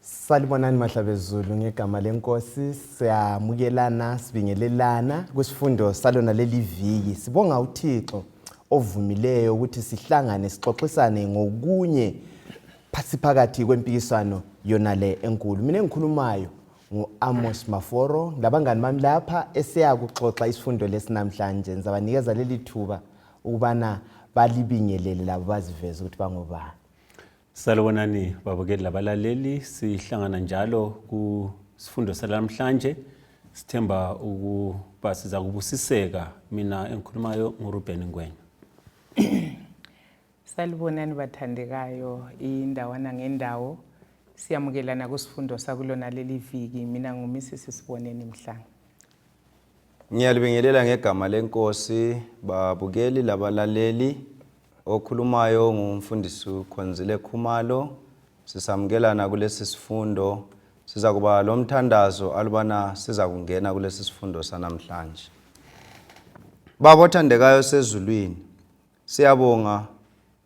salibonani mahlabezulu ngegama lenkosi siyamukelana sibingelelana kwisifundo salona leli viki sibonga uthixo ovumileyo ukuthi sihlangane sixoxisane ngokunye siphakathi kwempikiswano yona le enkulu mina engikhulumayo ngu-amos maforo labangani bami lapha esiyakuxoxa isifundo lesi namhlanje ngizabanikeza leli thuba ukubana balibingelele labo baziveze ukuthi bangobani salibonani babukeli labalaleli sihlangana njalo kusifundo salamhlanje sithemba ukuba siza kubusiseka mina engikhulumayo nguruben ngwenya salibonani bathandekayo indawana ngendawo siyamukelana kusifundo sakulona leli viki mina ngumisisi siboneni mhlanga Ngiyalibingelela ngegama lenkosi babukeli labalaleli. Okhulumayo ngumfundisi Khonzile Khumalo. Sisamukelana kulesi sifundo. Sizakuba lomthandazo alubana sizakungena kulesi sifundo sanamhlanje. Baba othandekayo sezulwini, siyabonga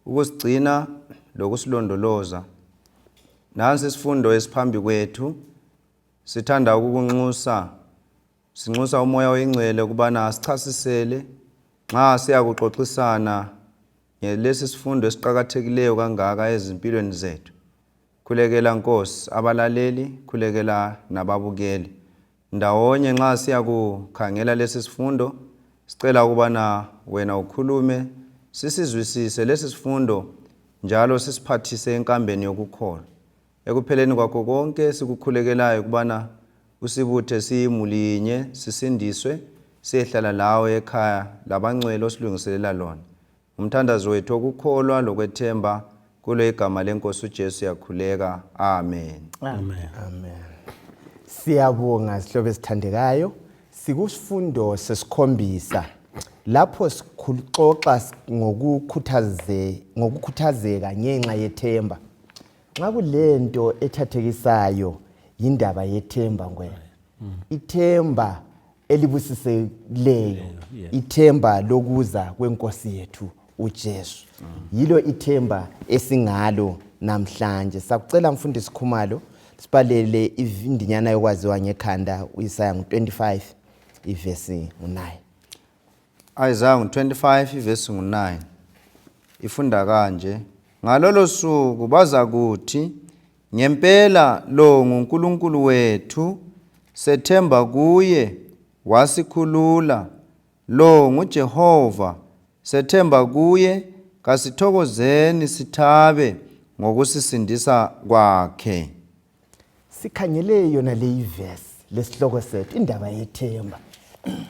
ukusigcina lokusilondoloza. Nansi isifundo esiphambi kwethu sithanda ukukunxusa sinxusa umoya oyingcwele ukubana asichasisele nxa siyakuxoxisana ngelesi sifundo esiqakathekileyo kangaka ezimpilweni zethu khulekela nkosi abalaleli khulekela nababukeli ndawonye nxa siyakukhangela lesi sifundo sicela ukubana wena ukhulume sisizwisise lesi sifundo njalo sisiphathise enkambeni yokukholwa Ekupheleni kwakho konke sikukhulekelayo kubana usibuthe siyimuli yinye sisindiswe siyehlala lawe ekhaya labangcwele osilungiselela lona. Umthandazo wethu okukholwa lokwethemba kulo igama lenkosi uJesu yakhuleka. Amen. Amen. Amen. Siyabonga sihlobo esithandekayo. Sikusifundo sesikhombisa lapho sikuxoxa ngokukhuthazeka ngenxa yethemba. nxa kulento ethathekisayo yindaba yethemba ngwena mm. ithemba elibusisekileyo ithemba lokuza kwenkosi yethu uJesu mm. yilo ithemba esingalo namhlanje sakucela mfundisi Khumalo sibhalele ivindinyana yokwaziwa ngekhanda uIsaya ngo25 ivesi ngo9 Isaiah 25 verse 9 ifunda kanje ngalolo suku bazakuthi ngempela lo nguNkulunkulu wethu sethemba kuye wasikhulula lo nguJehova sethemba kuye kasithokozeni sithabe ngokusisindisa kwakhe Sikhangele yona leyi verse lesihloko sethu indaba yethemba.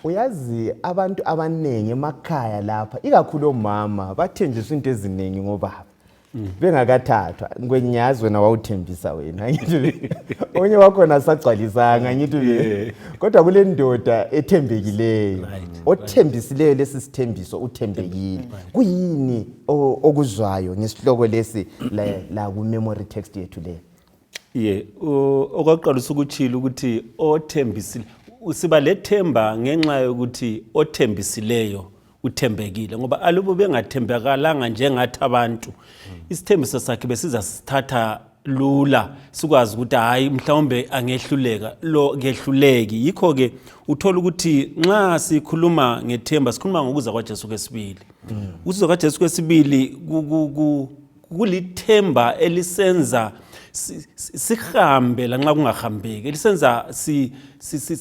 Uyazi abantu abanengi emakhaya lapha ikakhulu omama bathenjiswa into eziningi ngobaba. Mm. bengakathathwa ngwenyazi wena wawuthembisa wena ngithi onye wakhona sagcwalisanga ngithi kodwa kule ndoda ethembekileyo othembisileyo lesi sithembiso uthembekile kuyini okuzwayo ngesihloko lesi lakumemory text yethu leyo ye okwaqalisa ukutshilo ukuthi othembisile siba lethemba ngenxa yokuthi othembisileyo uthembekile ngoba alubo bengathembekalanga njengathi abantu isithembiso sakhe besiza sithatha lula sikwazi ukuthi hayi mhlawumbe angehluleka lo ngehluleki yikho ke uthola ukuthi nxa sikhuluma ngethemba sikhuluma ngokuza kwaJesu kwesibili mm. ukuza kwaJesu kwesibili kulithemba elisenza sihambe lanxa kungahambeki elisenza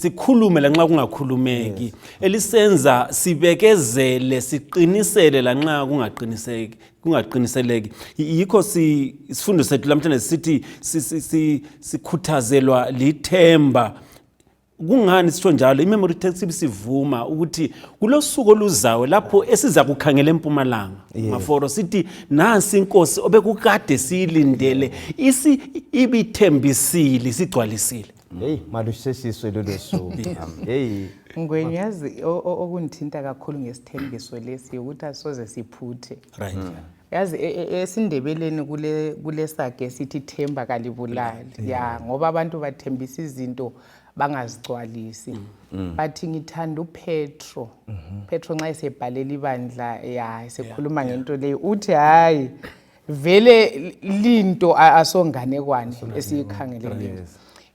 sikhulume lanxa kungakhulumeki elisenza sibekezele siqinisele lanxa kungaqiniseki kungaqiniseleki yikho isifundo sethu lamhlanje sithi sikhuthazelwa lithemba kungani sitsho njalo imemory text ibisivuma ukuthi kulosuku oluzayo lapho esiza kukhangela empumalanga yes. maforo sithi nansi inkosi obekukade siyilindele isi ibithembisile isigcwalisile hey malusesiswe lolo suku hey ngwenye yazi okungithinta kakhulu ngesithembiso lesi ukuthi asoze siphuthe right mm. yazi e, e, esindebeleni kule kulesage sithi themba kalibulali mm. ya ngoba abantu bathembisa izinto bangazigcwalisi mm. Mm. bathi ngithanda upetro mm-hmm. petro nxa esebhalela ibandla ya esekhuluma ngento leyo uthi hayi vele linto asonganekwane esiyikhangeleleyo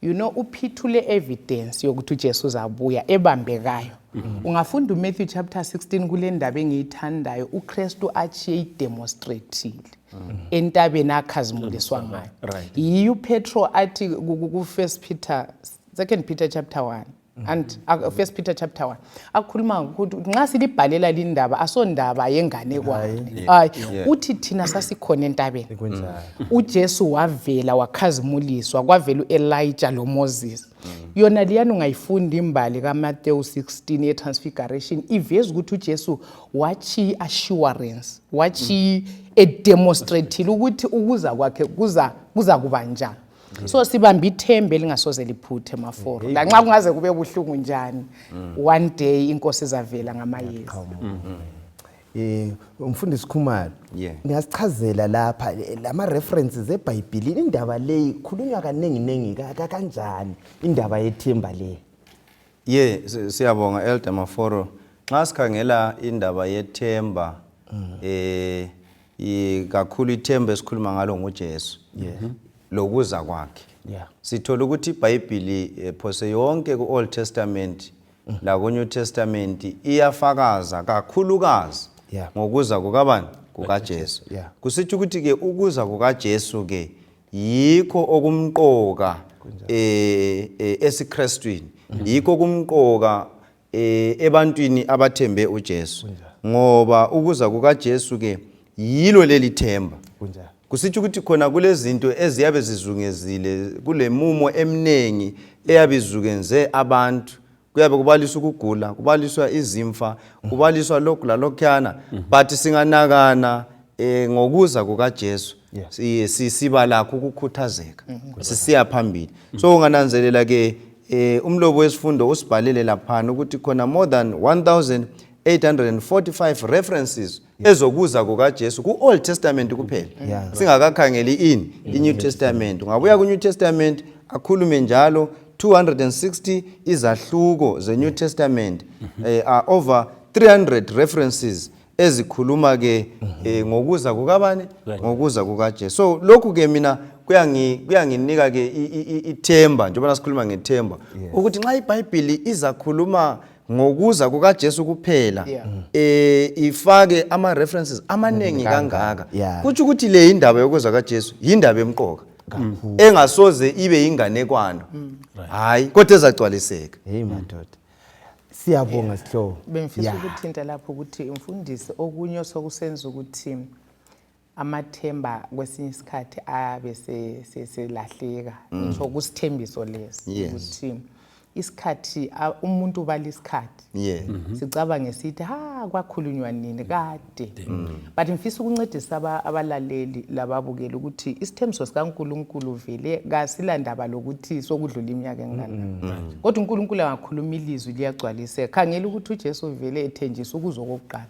you know uphithule evidence yokuthi uJesu uzabuya ebambekayo mm-hmm. ungafunda uMatthew chapter 16 kule ndaba engiyithandayo uKristu achiye idemonstratile mm-hmm. entabeni akhazimuliswa ngayo yiyo uPetro athi ku-1 Peter 2 Peter chapter 1 and uh, first peter chapter 1 akhuluma ukuthi nxa silibhalela lindaba asondaba yenganekwane hayi uthi thina sasikhona entabeni ujesu wavela wakhazimuliswa kwavela u-elija lomoses mm. yona liyani ungayifunda imbali kamatewu 16 ye-transfiguration iveza ukuthi ujesu watshiya i-assurance watshiya mm. edemonstratile ukuthi ukuza kwakhe kuza kuba njani so sibambe ithemba elingasoze liphuthe maforo lanxa kungaze kube buhlungu njani mm. one day inkosi izavela ngamayezi eh umfundisi Khumalo ngiyasichazela lapha lama references eBhayibhelini indaba leyi khulunywa kaningi ningi kanjani indaba yethemba le ye siyabonga elder maforo nxa sikhangela indaba yethemba mm. eh I- kakhulu ithemba esikhuluma ngalo ngujesu Mhm. lokuza kwakhe Yeah. sithola ukuthi ibhayibhili eh, phose yonke ku-old testament Mhm. laku-new testament iyafakaza kakhulukazi Yeah. ngokuza kukabani kukajesu Yeah. kusitsho ukuthi-ke ukuza kukajesu-ke yikho okumqoka eh, eh, esikrestwini yikho okumqoka e, ebantwini abathembe uJesu ngoba ukuza kukaJesu ke yilo leli themba kusitsho ukuthi khona kulezinto eziyabe zizungezile kulemumo eminingi eyabe izukenze abantu kuyabe kubaliswa ukugula kubaliswa izimfa mm. kubaliswa lokhu lalokhuyana mm. but singanakana um ngokuza kukajesu siba lakho ukukhuthazeka mm. sisiya phambili so ungananzelela ke Eh umlobo wesifundo usibhalele laphana ukuthi khona more than 1845 references ezokuza kukaJesu ku Old Testament kuphela. Yeah. Singakakhangeli in i New Testament. Ngabuya ku New Testament akhulume njalo 260 izahluko ze New Testament mm -hmm. eh, are over 300 references ezikhuluma ke eh, ngokuza kukabani ngokuza kukaJesu so lokhu ke mina kuyangi kuyanginika ke i- i- i- ithemba njengoba sikhuluma ngethemba ukuthi nxa iBhayibhili izakhuluma ngokuza kukaJesu kuphela Yeah. eh ifake ama references amaningi kangaka Yeah. kutsho ukuthi le indaba yokuza kaJesu yindaba emqoka engasoze ibe inganekwana hayi kodwa ezagcwaliseka Hey madoda. siyabonga sihlobo bengifisa Ya. ukuthinta lapho ukuthi mfundisi okunye osokusenza ukuthi amathemba kwesinye isikhathi abe se- se- selahleka ngisho kusithembiso lesi Mm. Yes. ukuthi isikhathi a- umuntu ubala isikhathi yes sicabange sithi ha kwakhulunywa nini kade kude mm. but ngifisa ukuncedisa abalaleli lababukeli ukuthi isithembiso sikaNkulunkulu vele kasilandaba lokuthi sokudlula iminyaka enganani mm. mm. kodwa uNkulunkulu angakhuluma ilizwi liyagcwaliseka khangela ukuthi uJesu vele ethenjisa ukuzo kokuqala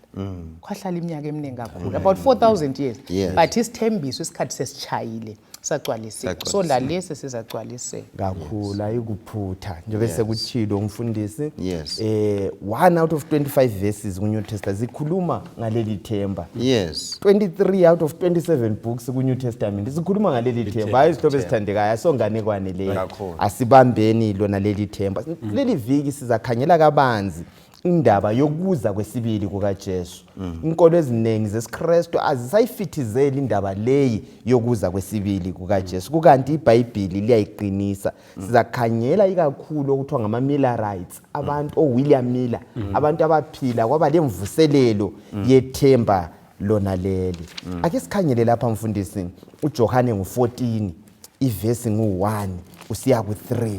kwahlala iminyaka eminingi kakhulu about 4000 years but isithembiso isikhathi sesichayile sagcwaliseka so lalesi sizagcwaliseka kakhulu ayikuphutha njengoba sekutshilo umfundisi yes. eh, one out of 25 verses ku-new testament zikhuluma ngaleli themba yes. 23 out of 27 books ku-new testament zikhuluma ngaleli themba hayi izihlobo ezithandekayo asonganekwane leyo asibambeni lona leli themba mm. leli viki sizakhangela kabanzi indaba yokuza kwesibili kukaJesu mm. inkolo eziningi zesiKristu azisayifithizeli indaba leyi yokuza kwesibili kukaJesu mm. kukanti iBhayibhili liyayiqinisa mm. sizakhangela ikakhulu okuthiwa ngama Miller rights abantu o William Miller abantu abaphila kwaba lemvuselelo yethemba lona leli ake sikhangele lapha mfundisi uJohane ngo14 ivesi ngo1 usiya ku3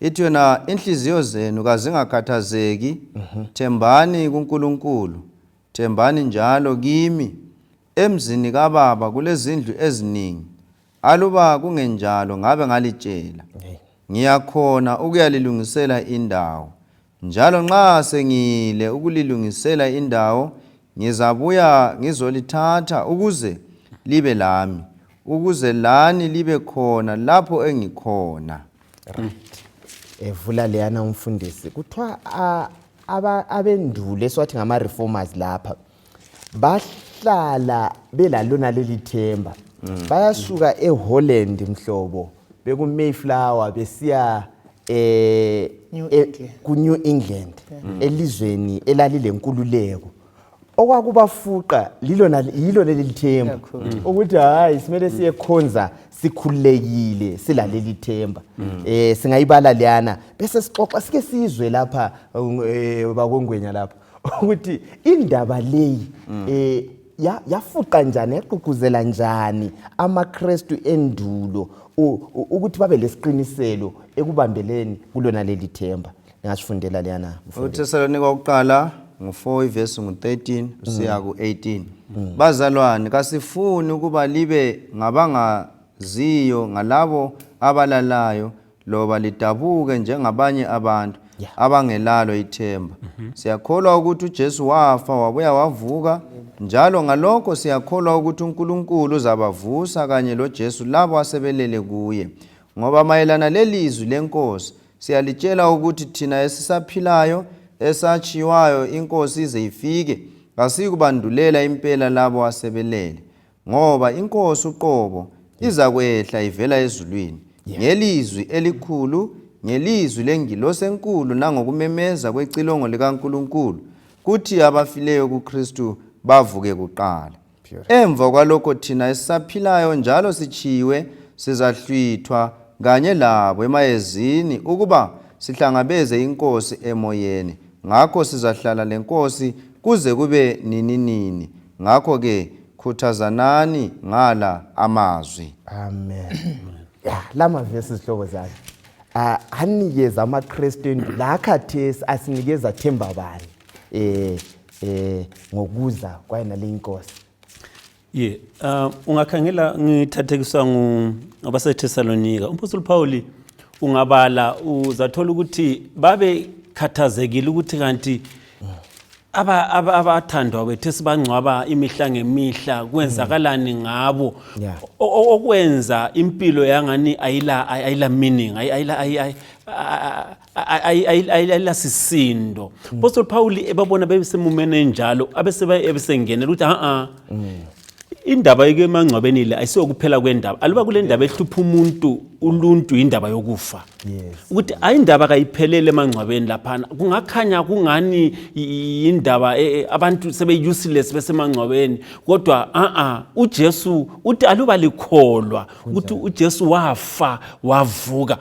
ithi yona inhliziyo zenu kazingakhathazeki mhm. thembani kuNkulunkulu thembani njalo kimi emzini kababa kulezindlu eziningi aluba kungenjalo ngabe ngalitshela ngiyakhona ukuyalilungisela indawo Njalo nxa sengiyile ukulilungisela indawo, ngizabuya ngizolithatha ukuze libe lami, ukuze lani libe khona lapho engikhona. Right. Evula leyana umfundisi. Kuthiwa abendulo esiwathi ngama reformers lapha. bahlala belalona leli themba mm. bayasuka eholland mhlobo bekumayflower besiya eh, eh kunew england mm. elizweni elalilenkululeko okwakubafuqa lilona yilo leli themba mm. ukuthi hayi simele siyekhonza sikhululekile silaleli themba mm. eh singayibala liyana bese sixoxa sike sizwe lapha eh, bakongwenya lapha ukuthi indaba leyi um mm. eh, yafuqa njani yaqhuqhuzela njani amakrestu endulo ukuthi babe lesiqiniselo ekubambeleni kulona leli themba ngasifundela leyana uthesalonika wokuqala ngu-4 ivesi ngu-13 usiya ku-18 bazalwane kasifuni ukuba libe ngabangaziyo ngalabo abalalayo loba lidabuke njengabanye abantu yeah. abangelalo ithemba mm -hmm. siyakholwa ukuthi uJesu wafa wabuya wavuka njalo ngalokho siyakholwa ukuthi uNkulunkulu uzabavusa kanye loJesu labo asebelele kuye ngoba mayelana lelizwi lenkosi siyalitshela ukuthi thina esisaphilayo esatshiwayo inkosi ize ifike kasiyikubandulela impela labo asebelele Ngoba inkosi uqobo izakwehla ivela ezulwini yeah. ngelizwi elikhulu ngelizwi lengilosi enkulu nangokumemeza kwecilongo likaNkulunkulu kuthi abafileyo kuKristu bavuke kuqala emva kwalokho thina esisaphilayo njalo sichiyiwe sizahlwithwa kanye labo emayezini ukuba sihlangabeze inkosi emoyeni ngakho sizahlala lenkosi kuze kube nininini ngakho ke khuthazanani ngala amazwi amen ya lama verse zihlobo zami ah, anikeza amakristu endu la khathesi asinikeza themba bani eh eh ngokuza kwayena le inkosi ye um ungakhangela ngithathekiswa ngabasethesalonika umpostoli phawuli ungabala uzathola ukuthi babekhathazekile ukuthi kanti abathandwa aba, bethu esibangcwaba imihla ngemihla kwenzakalani ngabo yeah. okwenza impilo yangani ayila ayila meaning ayila ayilasisinto mm. postol paul ebabona bebesemumeni enjalo abesebaebesengenela ukuthi a-a mm. indaba yemangcwabeni le ayisiyokuphela kwendaba aluba kule ndaba ehlupha umuntu uluntu yindaba yokufa ukuthi ayi indaba kayiphelele emangcwabeni laphana kungakhanya kungani yindaba e, e, abantu sebe-useless besemangcwabeni kodwa a-a ujesu uthi aluba likholwa ukuthi ujesu wafa wavuka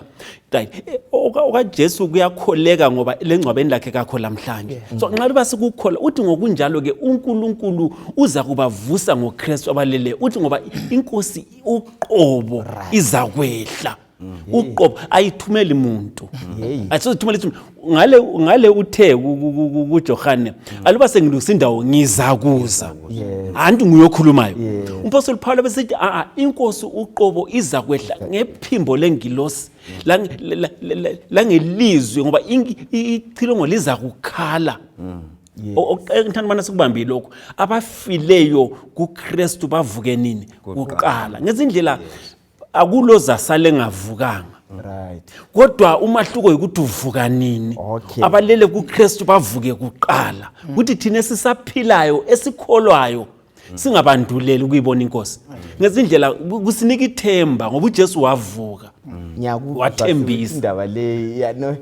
right eh, okajesu kuyakholeka ngoba lengcwabeni lakhe kakho lamhlanje yeah. so nxa liba sikukhola uthi ngokunjalo ke unkulunkulu uza kubavusa ngokristu abaleleyo uthi ngoba inkosi uqobo right. izakwehla mm. uqobo ayithumeli muntu ayisozithumela muntu ngale ngale uthe kuJohane mm. aluba sengilungisa indawo ngizakuza anti nguyokhulumayo umpostoli Paulo besithi a a inkosi uqobo iza kwehla ngephimbo lengilosi la ngelizwe ngoba ichilongo liza kukhala mm. okuthanda ubana sikubambile lokhu abafileyo kuKristu bavuke nini kuqala ngezindlela akulozasale ngavukanga right kodwa umahluko yikuthi uvuka nini okay. abalele kuKristu bavuke kuqala mm. ukuthi mm. thina sisaphilayo esikholwayo mm. singabanduleli ukuyibona inkosi mm. ngezindlela kusinika ithemba ngoba uJesu wavuka mm. wathembisa indaba leyi yano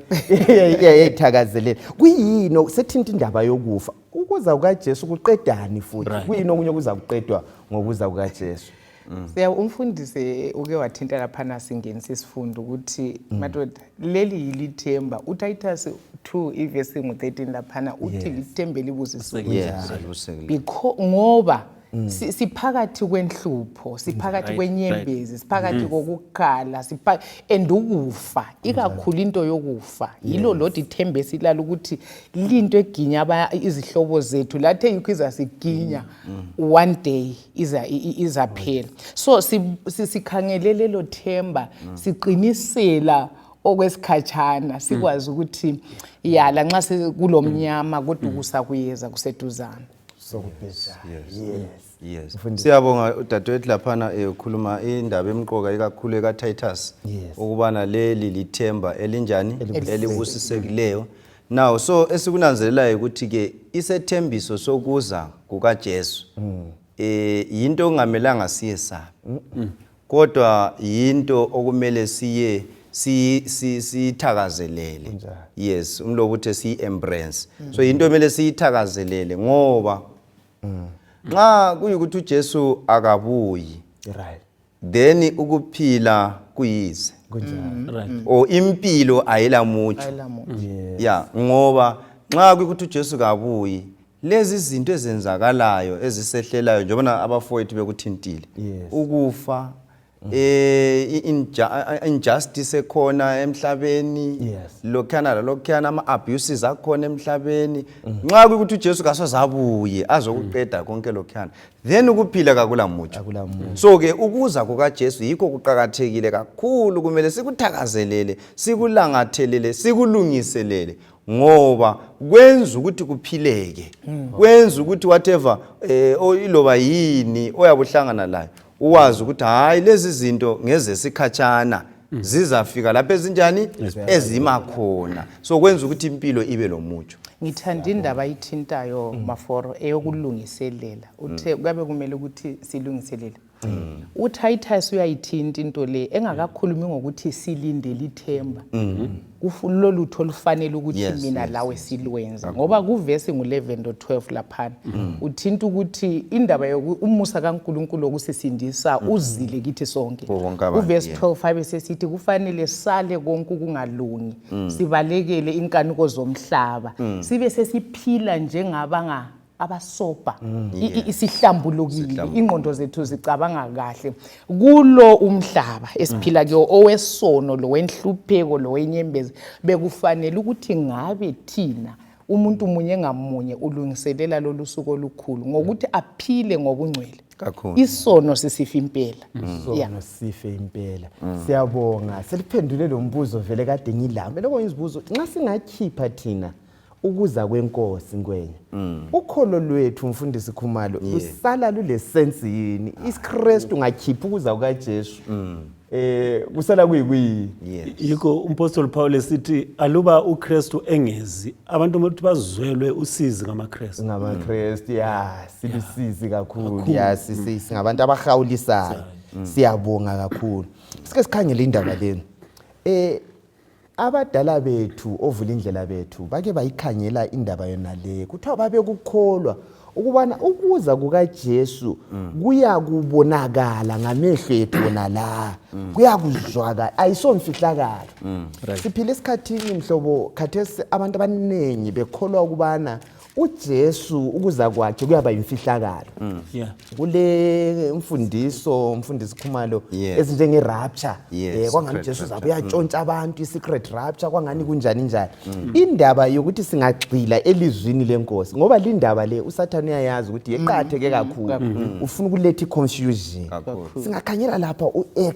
yayithakazelela kuyini sethinta indaba yokufa ukuza kukaJesu kuqedani futhi right. kuyini okunye kuza kuqedwa ngokuza kukaJesu mm. siya umfundisi uke wathinta laphana singenisa isifundo ukuthi mm. madoda leli yilithemba utitasi 2 ivesi ngu-13 laphana uthi yes. lithembe libuzisiwe yes. ngoba yes. Mm. siphakathi kwenhlupho siphakathi kwenyembezi siphakathi mm. kokukhala and ukufa mm. ikakhulu into yokufa yilo lodi ithemba esilala ukuthi linto eginya izihlobo zethu lathe yikho izasiginya one day izaphela so sikhangele lelo themba mm. siqinisela okwesikhatshana sikwazi mm. ukuthi ya lanxa sikulomnyama kodwa ukusa kuyeza kuseduzana siyabonga udadewethu laphana ekhuluma eh, indaba emqoka ikakhulu ekatitus ukubana leli lithemba elinjani elibusisekileyo Now so esikunanzelelayo ukuthi ke isethembiso sokuza kukaJesu mm. eh yinto ongamelanga siyesabe. Mm -mm. Kodwa yinto okumele siye si si sithakazelele. Yes, umlobo uthe si embrace. Mm. So yinto emele siyithakazelele ngoba mm. nxa kuyikuthi uJesu akabuyi. Right. then ukuphila kuyize kunjani right or impilo ayila mutsho ayila muntu ya ngoba nxa kuyikuthi ujesu kabuyi lezi zinto ezenzakalayo ezisehlelayo njengobana abafowethu bekuthintile Yes. ukufa eh i- inja- injustice ekhona emhlabeni Yes. lokhana lalokhana ama abuses akhona emhlabeni nxa kuyikuthi uJesu kasozabuye azokuqeda konke lokhana then ukuphila kakula mutsho so ke ukuza kukajesu yikho kuqakathekile kakhulu kumele sikuthakazelele sikulangathelele sikulungiselele ngoba kwenza ukuthi kuphileke hmm. kwenza ukuthi whatever eh iloba yini oyabuhlangana layo uwazi ukuthi hayi lezi zinto ngezesikhatshana mm. zizafika lapho ezinjani ezima khona so kwenza ukuthi impilo ibe lomutsho ngithanda indaba ayithintayo mm. maforo eyokulungiselela uthe mm. kuyabe kumele ukuthi silungiselele uTitus uyayithinta into le engakakhulumi ngokuthi silindele ithemba mm-hmm. kulolutho olufanele ukuthi yes, mina yes, lawe silwenza yes. ngoba kuvesi ngulevendo 12 laphana mm. uthinta ukuthi indaba youmusa kankulunkulu wokusisindisa mm. uzile kithi sonke kuvesi 12 abe sesithi kufanele sale konke ukungalungi mm. sibalekele inkanuko zomhlaba mm. sibe sesiphila njengabanga abasobha mm. isihlambulukile ingqondo zethu zicabanga kahle kulo umhlaba esiphila kuyo owesono lowenhlupheko lowenyembezi bekufanele ukuthi ngabe thina umuntu munye ngamunye ulungiselela lolu suku olukhulu ngokuthi aphile ngobungcwele isono sisifa impela mm. isono sife impela mm. siyabonga seliphendule lo mbuzo vele kade ngilame lokho ngizibuzo nxa singakhipha thina ukuza kwenkosi ngwenya mm. ukholo lwethu mfundisi khumalo yeah. lusala lulesensi yini ah. isikristu ngakhipha ukuza kukajesu mm. eh kusala kuyikuyini yes. yikho umpostoli pawule esithi aluba ukristu engezi abantu ukuthi bazwelwe usizi ngamakristu ngamakristu mm. ya silusizi yeah. kakhulu ya mm. singabantu abahawulisayo mm. siyabonga kakhulu sike sikhangele indaba leni eh Abadala bethu ovulindlela bethu bake bayikhangela indaba yonale kuthiwa babekukholwa ukubana ukuza kukaJesu mm. kuyakubonakala ngamehlo ethu wona la mm. kuyakuzwakala ayisomfihlakalo mm. siphila esikhathini mhlobo khathesi abantu abaningi bekholwa ukubana uJesu ukuza kwakhe kuyaba yimfihlakalo mm. yeah. kule mfundiso mfundisi Khumalo yes. ezinjenge rapture yes. eh, kwangani Jesu zabe uyatshontsha mm. abantu i-secret rapture kwangani kunjani njani mm. indaba yokuthi singagxila elizwini lenkosi ngoba lindaba le usathane uyayazi ukuthi yeqatheke mm. kakhulu mm. ufuna ukuletha i-confusion singakhanyela lapha u-ex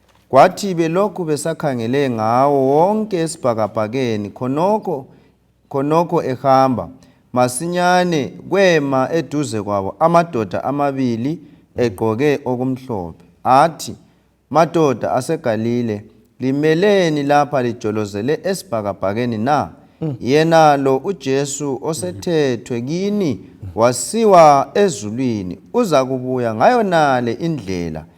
Kwathi belokhu besakhangele ngawo wonke esibhakabhakeni khonokho khonokho ehamba masinyane kwema eduze kwabo amadoda amabili egqoke okumhlophe athi madoda aseGalile limeleni lapha lijolozele esibhakabhakeni na mm. yena lo uJesu osethethwe kini wasiwa ezulwini uza kubuya ngayonale indlela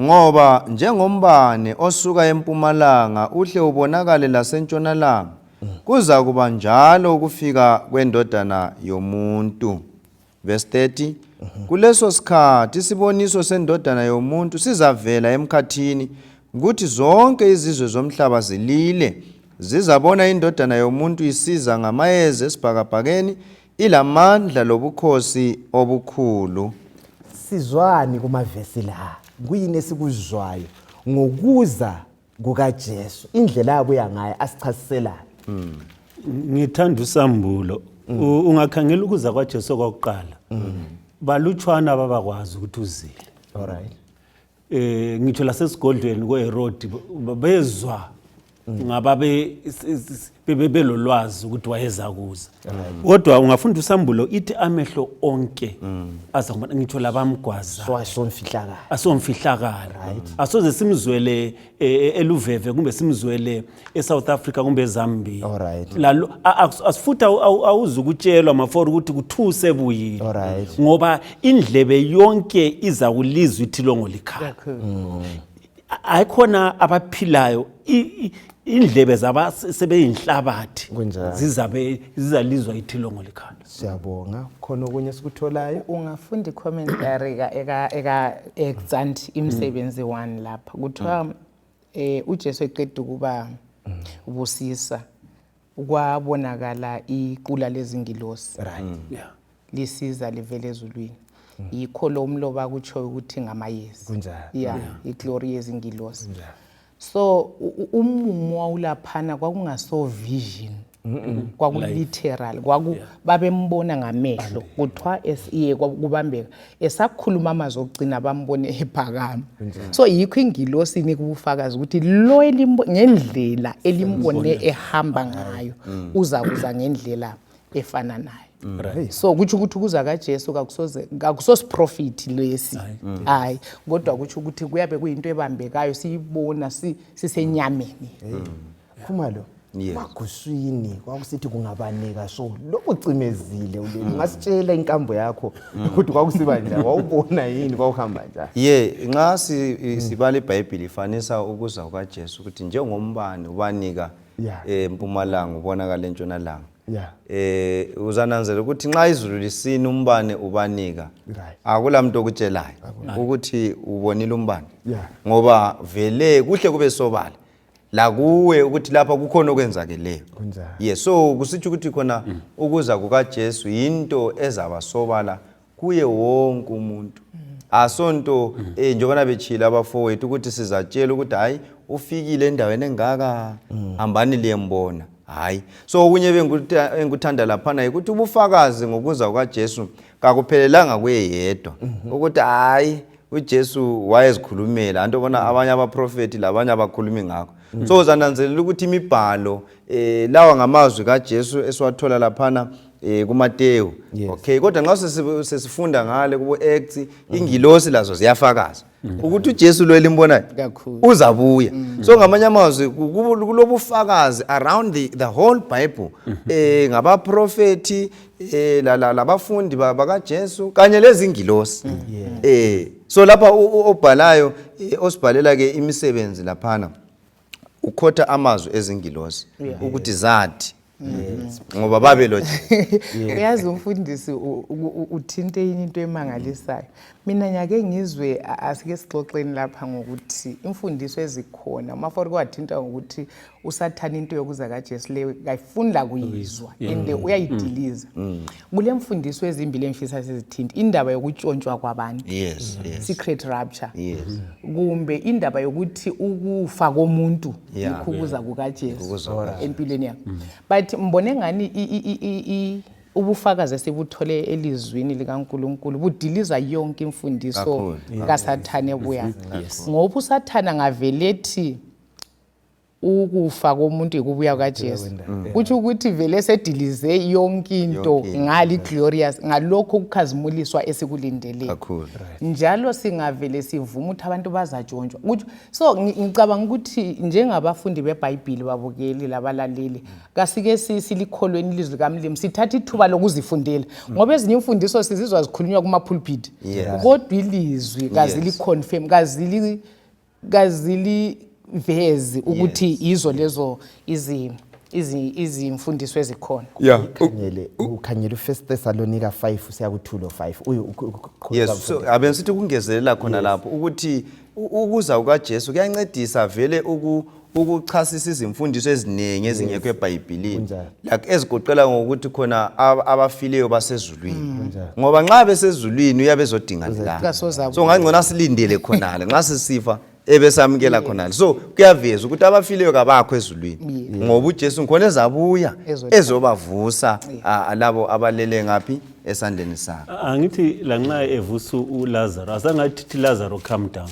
Ngoba njengombane osuka empumalanga uhle ubonakale lasentshonalanga, kuzakuba njalo ukufika kwendodana yomuntu. Verse 30. Kuleso sikhathi isiboniso sendodana yomuntu sizavela emkhathini kuthi zonke izizwe zomhlaba zilile zizabona indodana yomuntu isiza ngamayezi esibhakabhakeni ilamandla lobukhosi obukhulu sizwani kumavesi la kuyini esikuzwayo ngokuza kukajesu indlela abuya ngayo asichasiselani mm. ngithanda usambulo mm. ungakhangela ukuza kwajesu kwakuqala mm. balutshwana babakwazi ukuthi uzile eh ngitho lasesigodlweni kweherodi bezwa ngaba be- s- s- s- bebe- belolwazi ukuthi wayeza kuza kodwa ungafunda usambulo ithi amehlo onke aza kubona ngitho labamgwaza so asomfihlakala asomfihlakalo asoze simzwele eh, eluveve kumbe simzwele esouth africa kumbe ezambia Alright. lalo a- a- as- futhi awu- awu- awuzi ukutshelwa mafori ukuthi kuthuse buyile Alright. ngoba indlebe yonke iza kulizwa ithilongo likhala ayikhona abaphilayo i- i- indlebe zaba sebeyinhlabathi Kunjalo. zizabe zizalizwa ithilongo likhala siyabonga khona okunye esikutholayo ungafunda icommentary ka- eka- eka- exant imsebenzi one lapha kuthiwa Eh uJesu eqeda ukuba busisa kwabonakala iqula lezingilosi. Right. Mm. Yeah. Lisiza livele ezulwini. Mm. Yikho lo umloba kutsho ukuthi ngamayezi. Kunjalo. Yeah, iglory yezingilosi. Kunjalo. So umumo wawulaphana kwakungaso vision. kwakuliteral kwaku yeah. babembona ngamehlo kuthiwa esiye kubambeka esakhuluma amazwi okugcina bambone ephakama so yikho ingilosi inika ubufakazi ukuthi lo ngendlela elimbone ehamba ngayo mm. uza kuza ngendlela efana nayo Mm. Right. so kutsho ukuthi ukuza kajesu kakusosiprofiti lesi mm. hayi kodwa kutsho ukuthi kuyabe kuyinto ebambekayo siyibona sisenyameni mm. khumalo Yes. maguswini kwakusithi kungabaneka so lokhu cimezile uleli Mm. ungasitshela inkambo yakho ukuthi kwakusiba njani wawubona yini kwawuhamba njani ye nxa si- Mm. i- sibala ibhayibhili ifanisa ukuza kukajesu ukuthi njengombani ubanika Yeah. eh, mpumalanga ubonakala entshonalanga ya eh uzananzela ukuthi nxa izulu lisina umbane ubanika Right. akula muntu okutshelayo ukuthi ubonile umbane Yeah. ngoba vele kuhle kube sobala lakuwe ukuthi lapha kukhona okwenzakeleyo ye so kusitsho ukuthi khona mm. ukuza kukajesu yinto ezabasobala kuye wonke umuntu mm. asonto mm. eh, njengobana betshile abafowethu ukuthi sizatshela ukuthi hhayi ufikile endaweni engaka mm. hambani liyembona hhayi so okunye bengikuthanda laphana yikuthi ubufakazi ngokuza kukajesu kakuphelelanga kuye yedwa mm-hmm. ukuthi hhayi ujesu wayezikhulumela anto bona abanye abaprofethi labanye abakhulumi ngakho mm. so uzananzelela ukuthi imibhalo um lawa ngamazwi kajesu esiwathola laphana eh kuMateyu yes. okay kodwa nxa sesifunda ngale kubo Acts mm. ingilosi lazo ziyafakaza mm. ukuthi uJesu lo elimbonayo uzabuya mm. so ngamanye amazwi kulobufakazi around the, the whole bible mm -hmm. eh ngabaprofeti eh labafundi bakaJesu kanye lezingilosi mm. eh so lapha obhalayo eh, osibhalela ke imisebenzi laphana ukhotha amazwi ezingilosi ukuthi zathi ngoba babe lo uyazi umfundisi uthinte yini into emangalisayo mina nyake ngizwe asike sixoxeni lapha ngokuthi imfundiso ezikhona umafori kwathinta ngokuthi usathane into yokuza kajesu leyo kayifuni lakuyizwa and mm. uyayidiliza mm. mm. kulemfundiso ezimbili engifisa sizithinti indaba yokutshontshwa kwabantu yes, yes. secret rapture yes. kumbe indaba yokuthi ukufa komuntu yeah. ikhukuza yeah. kukajesu empilweni yakho mm. but mbone ngani ubufakazi esibuthole elizwini likaNkuluNkulu budiliza yonke imfundiso kaSathane buya ngoba uSathane ngavelethi ukufa komuntu yikubuya kukaJesu mm. kutsho ukuthi vele sedilize yonke into ngali glorious ngalokho ukukhazimuliswa esikulindeleyo njalo singavele sivume ukuthi abantu bazatshontshwa kutsho so ngicabanga ukuthi njengabafundi bebhayibhili babukeli labalaleli mm. kasike silikholweni ilizwi likamlimu sithatha ithuba lokuzifundela mm. ngoba ezinye imfundiso sizizwa zikhulunywa kumapulpit kodwa ilizwi kaziliconfirm kazili kazilivezi ukuthi Yes. yizo lezo izi- izi- izimfundiso ezikhona ya ukhangele ukhangele ufirst thessalonika 5 siyakuthula 5 uyu ukhu- ukhu- uqhubeka yes so ufunda. abe sithi ukungezelela khona lapho ukuthi u- ukuza kukajesu kuyancedisa vele uku- ukuchasisa izimfundiso eziningi ezingekho ebhayibhilini like ezigoqela ngokuthi khona abafileyo basezulwini mm. ngoba nxa besezulwini uyabe ezodinga lilanga so ngangcono asilindele khonale nxa sisifa ebesamukela khonale so kuyaveza ukuthi abafileyo kabakho ezulwini ngoba ujesu ngikhona ezabuya ezobavusa labo abalele ngaphi esandleni sakhe angithi lanxa evusa ulazaro asangathi thi lazaro come down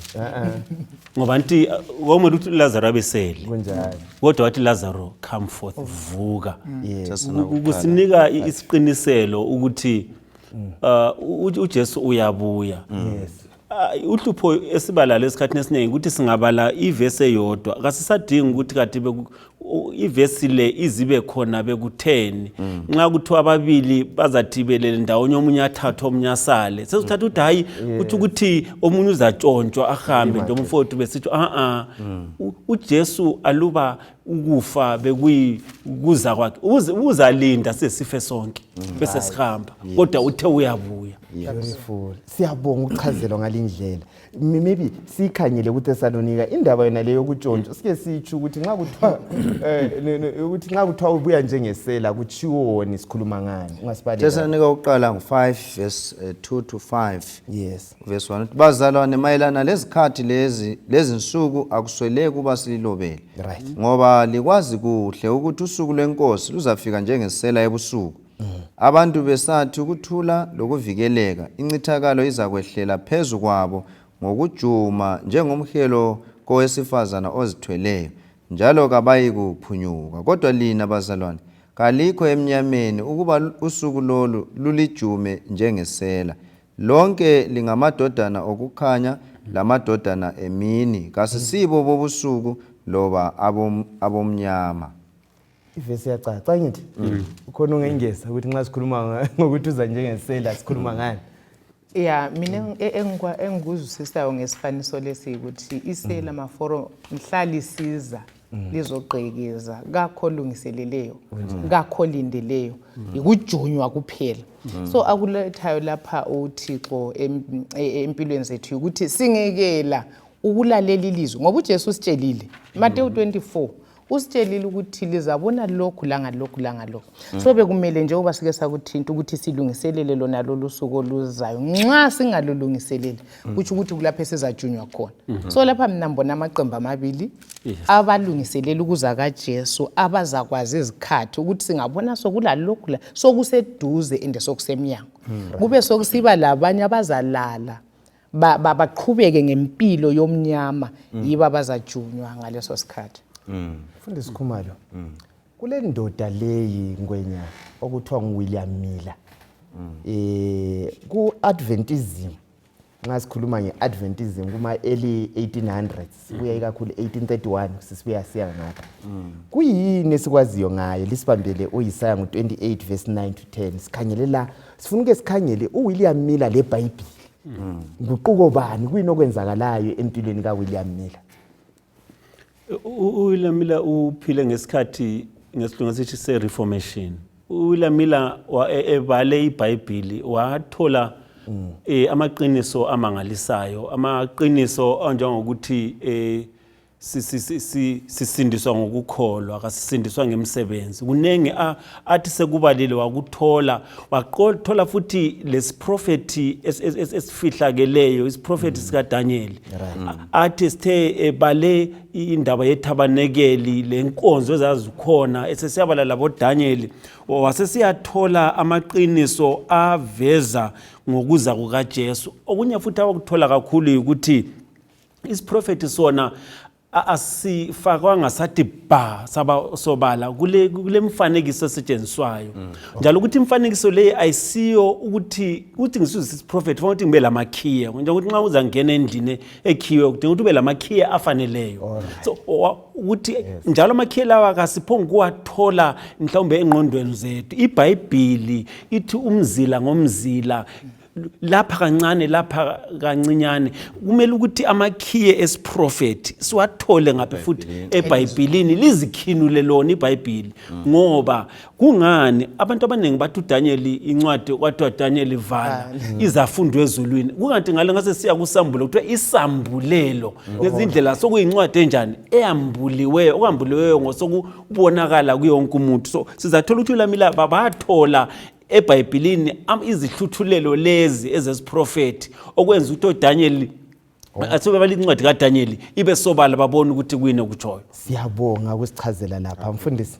ngoba nti uh, wawumele ukuthi lazaro abesele kunjalo kodwa wathi lazaro come forth vuka Just now, Ku- kusinika i- isiqiniselo ukuthi uh, u- ujesu uyabuya yes Ah, uhlupho esibalala esikhathini esiningi ukuthi singabala ivesi eyodwa kasisadingi ukuthi kati beku- ivesi le izibe khona bekutheni mm. nxa kuthiwa ababili bazathibelele ndawonye omunye athathe omunye asale sesithatha ukuthi hhayi kuthi ukuthi omunye uzatshontshwa ahambe nje umfowethu besitsho a-a mm. ujesu aluba ukufa bekuza kwakhe uzalinda sesife sonke mm. bese sihamba kodwa uthe uyabuya siyabonga ukuchazelwa ngalindlela maybe siyikhangele kuthesalonika indaba yona leyo yokutshontshwa sike sitsho ukuthi nxa kuthiwa eh, ukuthi nxa kuthiwa ubuya njengesela kutshiwoni sikhuluma ngani ungasibaletesanika ukuqala ngu-5 verse 2 eh, to 5 yes verse 1 bazalwane mayelana lezikhathi lezi lezinsuku akusweleki ukuba sililobele right ngoba likwazi kuhle ukuthi usuku lwenkosi luzafika njengesela ebusuku mm. abantu besathi ukuthula lokuvikeleka incithakalo izakwehlela phezu kwabo ngokujuma njengomhelo kowesifazana ozithweleyo njalo kabayikuphunyuka kodwa lina bazalwane kalikho emnyameni ukuba usuku lolu lulijume njengesela lonke lingamadodana okukhanya lamadodana emini kasisibo bobusuku loba abomnyama ivesi yacaca angithi mm. ukhona ungengeza ukuthi nxa sikhuluma ngokuthi uza njengesela sikhuluma mm. ngani ya mina engikuzwisisayo ngesifaniso lesi ukuthi isela mm. maforo mhlalisiza lizogqekeza kakho olungiseleleyo kakho olindeleyo yikujunywa kuphela so akulethayo lapha uthixo e-, empilweni zethu yikuthi singekela ukulalela ilizwi ngoba ujesu usitshelile matewu 24 usitshelile ukuthi lizabona lokhu langalokhu langalokhu mm. so bekumele nje uba sike sakuthinta ukuthi silungiselele lona lolu suku oluzayo nxa singalulungiseleli mm. kutsho ukuthi kulapho esizajunywa khona mm-hmm. so lapha mina mbona amaqembu amabili abalungiselela ukuza kajesu abazakwazi izikhathi ukuthi singabona sokulalokhu la sokuseduze ende sokusemnyango mm. kube sokusiba labanye abazalala ba, ba, baqhubeke ngempilo yomnyama mm. yiba bazajunywa ngaleso sikhathi mm. fundisi khumalo mm. kule ndoda leyi ngwenya okuthiwa nguwilliam miller mm. eh ku-adventism nxa sikhuluma nge-adventism kuma-early 1800s sibuya ikakhulu 1831 sisibuya siya ngapha mm. kuyini esikwaziyo ngaye lisibambele uyisaya ngo-28 verse 9 to 10 sikhangele la sifuna uke sikhangele uwilliam miller lebhayibhile mm. nguquko bani kuyini okwenzakalayo empilweni kawilliam miller uwilliam miller uphile ngesikhathi ngesilunga sithi se-reformation uwilamila e, ebale ibhayibhili wathola mm. e, amaqiniso amangalisayo amaqiniso anjengokuthi e, sisindiswa ngokukholwa kasisindiswa ngemsebenzi kuningi athi sekubalile wakuthola wathola futhi lesiprofethi esifihlakeleyo isiprofethi mm. sikadanyeli athi sithe ebale indaba yethabanekeli lenkonzo ezazikhona esesiyabala laboDanyeli wasesiyathola amaqiniso aveza ngokuza kukaJesu okunye futhi awakuthola kakhulu yikuthi isiprofethi sona asifakwanga sathi bha saba sobala kule kule mfanekiso esetshenziswayo mm, njalo ukuthi imfanekiso leyi ayisiyo ukuthi ukuthi ngisuzisa isiprofethi fanele ukuthi ngibe lamakhiya njengokuthi nxa uzangena endlini ekhiwe kudinga ukuthi ube lamakhiye afaneleyo so ukuthi yes. njalo amakhiye lawa kasiphongi ukuwathola mhlawumbe engqondweni zethu ibhayibhili ithi umzila ngomzila lapha kancane lapha kancinyane kumele ukuthi amakhiye esiprofethi siwathole ngaphi futhi ebhayibhilini lizikhinule lona ibhayibhili ngoba kungani abantu abaningi bathi uDanieli incwadi kwathiwa Danieli vala izafundo ezulwini kungathi ngale ngase siya kusambulo kuthiwa isambulelo ngezindlela sokuyincwadi enjani eyambuliweyo okambuliweyo ngosokubonakala kuyo wonke umuntu so sizathola ukuthi ulamila bathola ebhayibhilini izihluthulelo lezi ezesiprofethi okwenza ukuthi oDanieli Oh. asuke balincwadi kadanyeli ibe sobala babona ukuthi kuyini okutshoyo siyabonga ukusichazela lapha mfundisi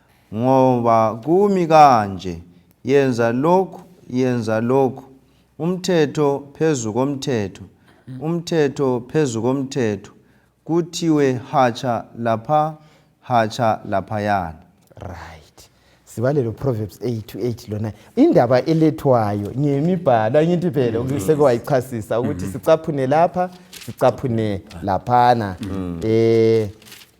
ngoba kumi kanje yenza lokhu yenza lokhu umthetho phezu komthetho umthetho phezu komthetho kuthiwe hatsha lapha hatsha laphayana right sibalele uproverbs 8 to 8 lona indaba elethwayo ngemibhalo angithi phela mm. ukuseke wayichasisa ukuthi mm-hmm. sicaphune lapha sicaphune laphana um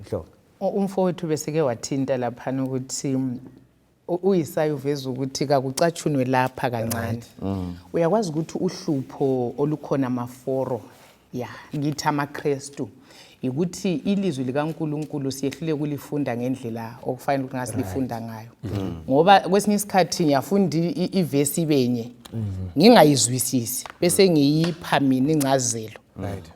Mhlongo. Umfowethu besike wathinta laphana ukuthi uyisayi uveza ukuthi kakucatshunwe lapha kancane mm. uyakwazi ukuthi uhlupho olukhona maforo ya ngithi amakrestu yikuthi ilizwi likaNkuluNkulu siyehlule kulifunda ngendlela okufanele ukuthi ngasilifunda ngayo mm. ngoba kwesinye isikhathi ngiyafunda ivesi benye mm-hmm. ngingayizwisisi bese ngiyipha mina ingcazelo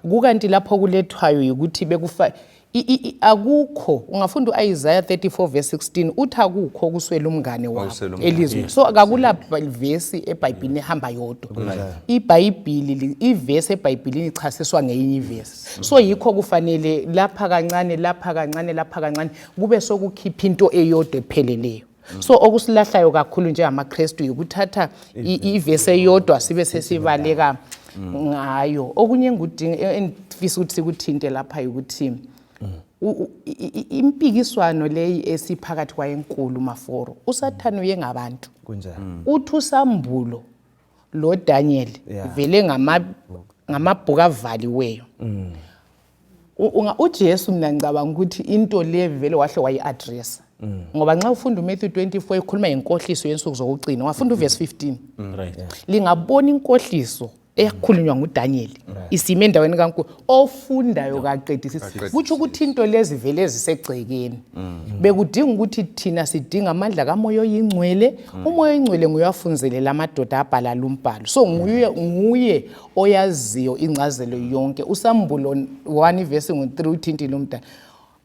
kukanti lapho kulethwayo yikuthi bekufa i- i- i- akukho ungafunda u-isaya 34 verse 16 uthi akukho okuswela umngane wakho Okuswela umngane, elizweni yes. so akakula vesi ebhayibhilini ehamba yodwa ibhayibhili li- ivesi ebhayibhilini ichasiswa ngeyinye ivesi so yikho kufanele lapha kancane lapha kancane lapha kancane kube sokukhipha into eyodwa epheleleyo Mm. so okusilahlayo kakhulu njengamaKristu yikuthatha ivesi eyodwa sibe sesibaleka mm. ngayo okunye engifisa ukuthi sikuthinte lapha yikuthi mm. impikiswano leyi esiphakathi kwayenkulu maforo usathane uye ngabantu uthi usambulo lodanyeli vele ngamabhuku avaliweyo ujesu mna ngicabanga ukuthi into le vele wahle wayi-adressa mm. ngoba nxa ufunda umatthew 24 ekhuluma ngenkohliso yensuku zokugcina wafunda uvesi 15 mm. lingabona inkohliso eyakhulunywa ngudanyeli isime endaweni kankulu ofundayo kaqedisisi kutsho ukuthi into lezi vele ezisegcekeni mm. bekudinga ukuthi thina sidinga amandla kamoya oyingcwele umoya oyingcwele nguye wafunzelela amadoda abhala lumbhalo so nguye oyaziyo ingcazelo yonke usambulo 1 ivesi ngu-3 uthintile umdala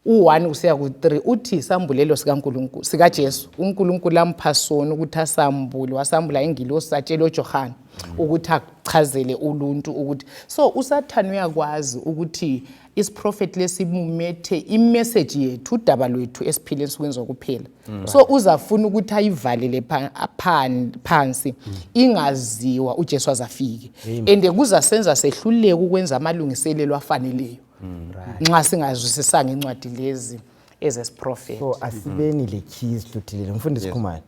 u-1 kusiya ku-3 uthi isambulelo sikankulunkulu sikajesu unkulunkulu ampha sona ukuthi asambule wasambula ingilosi satshela ojohane ukuthi akuchazele uluntu ukuthi so usathane uyakwazi ukuthi isiprofethi lesimumethe imeseji yethu udaba lwethu esiphile ensukwini zokuphela mm. so uzafuna ukuthi ayivalele phansi mm. ingaziwa uJesu azafike and kuzasenza sehluleke ukwenza amalungiselelo afaneleyo mm, nxa singazwisisanga incwadi lezi ezesiprofethi so asibeni le keys luthilele mfundisi khumani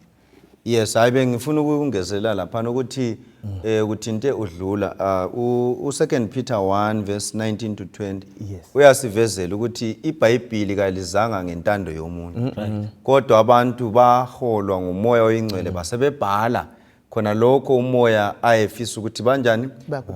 yes hayi bengifuna ukungezela laphana ukuthi mm. eh kuthinte udlula ah, u second Peter 1 verse 19 to 20 yes. uyasivezela ukuthi iBhayibheli kalizanga ngentando yomuntu mm -hmm. kodwa abantu baholwa ngumoya oyingcwele mm. basebebhala khona lokho umoya ayefisa ukuthi banjani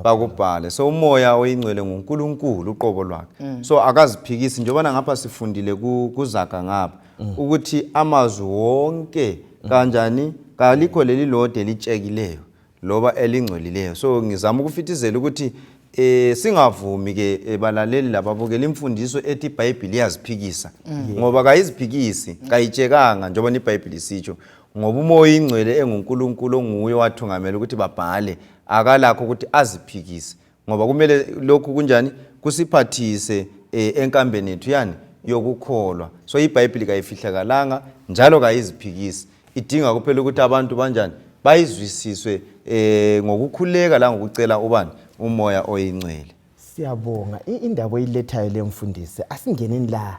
bakubhale so umoya oyingcwele nguNkulunkulu uqobo lwakhe mm. so akaziphikisi njengoba ngapha sifundile kuzaga ngapha mm. ukuthi amazwi wonke mm. kanjani kalikho leli lode litshekileyo loba elingcolileyo so ngizama ukufithizela ukuthi eh singavumi ke eh, balaleli lababukela imfundiso ethi iBhayibheli iyaziphikisa mm. ngoba kayiziphikisi kayitshekanga njengoba iBhayibheli isitsho ngoba umoya ingcwele enguNkulunkulu onguye wathungamela ukuthi babhale akalakho ukuthi aziphikise ngoba kumele lokhu kunjani kusiphathise eh, enkambeni yethu yani yokukholwa so ibhayibhili kayifihlakalanga njalo kayiziphikisi idinga kuphela ukuthi abantu banjani bayizwisiswe eh ngokukhuleka la ngokucela ubani umoya oyingcwele siyabonga indaba oyilethayo lemfundisi asingeneni la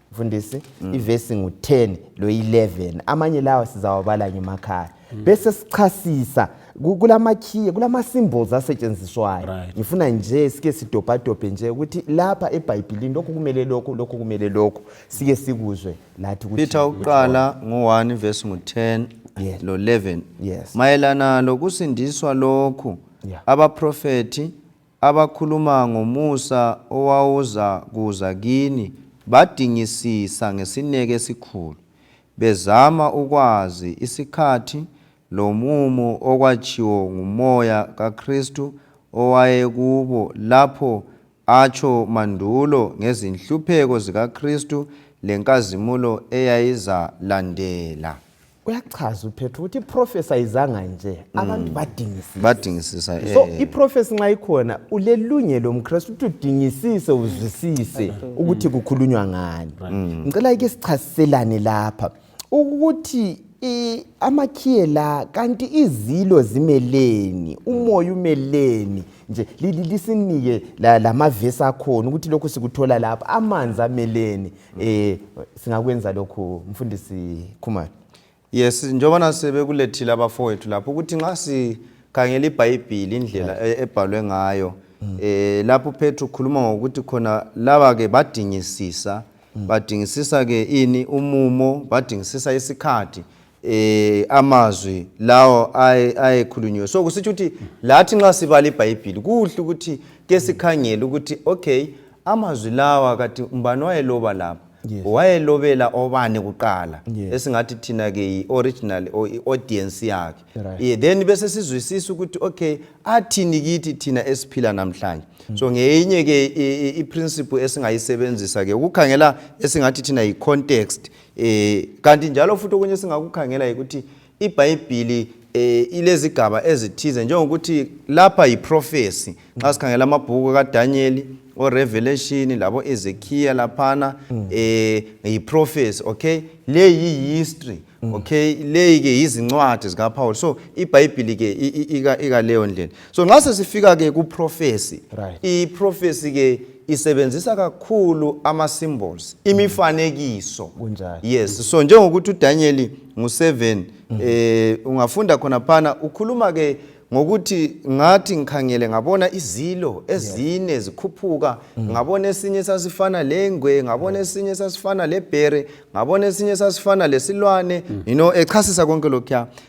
mfundisi mm. ivesi ngu-10 lo-11 amanye lawa sizawabala ngemakhaya mm. bese sichasisa kulamakhiye kulama-symbols asetshenziswayo right. ngifuna nje sike sidobhadobhe nje ukuthi lapha ebhayibhilini lokhu kumele lokhu lokhu kumele lokhu sike sikuzwe lathi peter ukuqala ngu-1 vesi ngu-10 yes. lo-11 yes. mayelana lokusindiswa lokhu yeah. abaprofethi abakhuluma ngomusa owawuzakuza kini badingisisa ngesineke esikhulu bezama ukwazi isikhathi lomumo okwatshiwo nguMoya kaKhristu owayekubo lapho atsho mandulo ngezinhlupheko zikaKhristu lenkazimulo eyayizalandela. uyachaza uphethu ukuthi iprofesa izanga nje mm. abantu badingisisa badingisisa eh. so iprofesa nxa ikhona ulelungelo mkristu ukuthi udingisise uzwisise mm. ukuthi kukhulunywa ngani mm. ngicela ike sichaziselane lapha ukuthi amakhiye la kanti izilo zimeleni umoya umeleni nje lisinike lamavesi akhona ukuthi lokhu sikuthola lapha amanzi ameleni eh singakwenza lokhu mfundisi Khumalo yes njengoba nasebekulethile abafowethu lapho ukuthi nxa sikhangela ibhayibhili indlela e-, ebhalwe ngayo mm. eh lapho Petru ukhuluma ngokuthi khona laba ke badingisisa mm. badingisisa ke ini umumo badingisisa isikhathi eh amazwi lawo ayekhulunyiwe so kusitsho ukuthi lathi nxa sibala ibhayibhili kuhle ukuthi ke sikhangele ukuthi okay amazwi lawa kathi umbani wayeloba lapha yes. wayelobela obani kuqala yes. esingathi thina ke yi-original or i-audience yakhe right. yeah, then bese sizwisisa ukuthi okay athini kithi thina esiphila namhlanje mm. so ngeyinye ke i-principle esingayisebenzisa ke ukukhangela esingathi thina yi-context Eh kanti njalo futhi okunye singakukhangela yikuthi iBhayibhili eh ilezigaba ezithize njengokuthi lapha yiprofesi nxa sikhangela amabhuku kaDaniel oRevelation labo Ezekiel laphana mm. eh yiprofesi okay le yihistory mm. okay le ke yizincwadi zikaPaul so iBhayibhili ke ika ika leyo ndlela so nxa sesifika ke kuprofesi right. iprofesi ke isebenzisa kakhulu ama-symbols imifanekiso Kunjani? yes so njengokuthi udanyeli ngu-7 mm. eh, ungafunda khona phana ukhuluma ke ngokuthi ngathi ngikhangele ngabona izilo ezine yes. zikhuphuka mm. ngabona esinye sasifana lengwe ngabona yes. esinye sasifana lebhere ngabona esinye sasifana lesilwane mm. you know echasisa konke lokhuya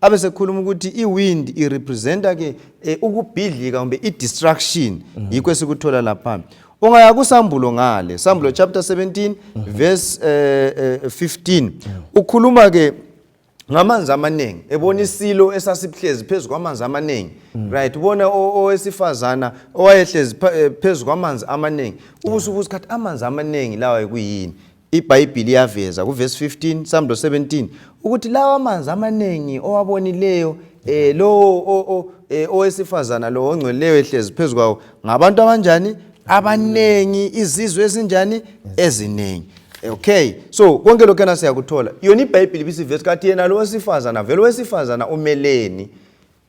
abe sekhuluma ukuthi iwind irepresenta ke eh, ukubhidlika kumbe i-distraction mm -hmm. yikho esikuthola lapha ungaya kusambulo ngale sambulo mm -hmm. chapter 17 mm -hmm. verse eh, eh, 15 mm -hmm. ukhuluma ke ngamanzi amaningi ebona mm. isilo esasihlezi phezu kwamanzi amaningi mm. right ubona owesifazana owayehlezi eh, phezu kwamanzi amaningi ubusubuza ukuthi amanzi amaningi lawa kuyini IBhayibhili iyaveza kuvesi 15 samdo 17 ukuthi lawa amanzi amanengi owabonileyo eh lowo eh, owesifazana lo ongcweleyo ehlezi phezu kwawo ngabantu abanjani abanengi izizwe ezinjani eziningi okay so konke lokho yena siyakuthola yona ibhayibhili ibisivesi kathi yena lo wesifazana vele owesifazana umeleni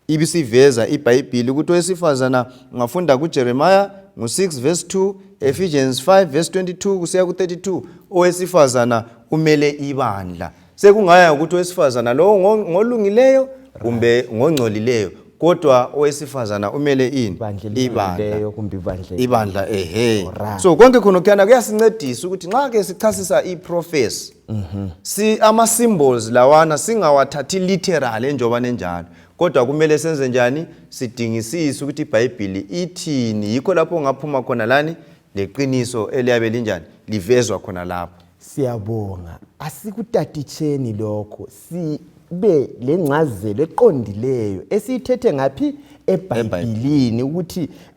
ibisiveza ibhayibhili ukuthi owesifazana ungafunda kujeremiya ngo-6 verse 2 ephesians 5 verse 22 kusiya ku-32 owesifazana umele ibandla sekungaya ukuthi owesifazana lowo ngolungileyo kumbe ngongcolileyo kodwa owesifazana umele ini ibandla ehe so konke khona kuyana kuyasincedisa ukuthi nxa ke sichasisa iprofesi mhm. si ama symbols lawana singawathathi literal enjoba nenjalo kodwa kumele senze njani sidingisise ukuthi ibhayibhili ithini yikho lapho ungaphuma khona lani leqiniso eliyabe linjani livezwa khona lapho siyabonga asikutatitsheni lokho sibe lengcazelo eqondileyo esiyithethe ngaphi ebhayibhilini ukuthi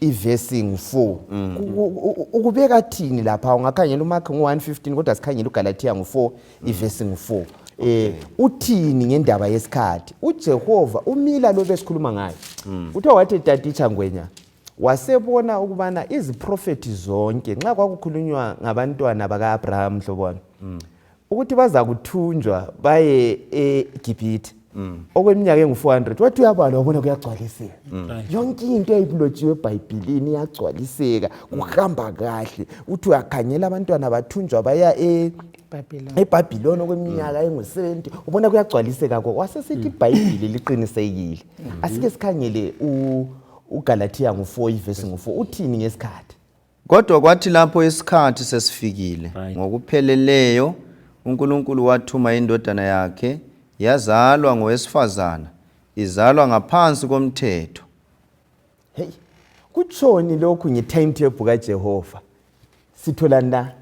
ivesi ngu-4 mm. ukubeka thini lapha ungakhangela umakhi ngu-115 kodwa sikhangela ugalatiya ngu-4 mm. ivesi ngu-4 eh uthini ngendaba yesikhathi uJehova umila lo besikhuluma ngayo mm. uthe wathi tatitsha ngwenya wasebona ukubana iziprofethi zonke nxa kwakukhulunywa ngabantwana baka-abraham mhlobona mm. ukuthi bazakuthunjwa baye egibhithe mm. okweminyaka engu-400 wathi uyabalwa wabona kuyagcwaliseka mm. yonke into eyibulotshiwe ebhayibhilini iyagcwaliseka mm. kuhamba kahle uthi uyakhangela abantwana bathunjwa baya e, ebhabhiloni okweminyaka engu-70 ubona kuyagcwaliseka ko wasesithi ibhayibhili liqinisekile asike sikhangele ugalatiya ngu-4 ivesi ngu-4 uthini ngesikhathi Kodwa kwathi lapho isikhathi sesifikile ngokupheleleyo uNkulunkulu wathuma indodana yakhe yazalwa ngowesifazana izalwa ngaphansi komthetho. Hey, kutshoni lokhu nge timetable kaJehova? Sithola na?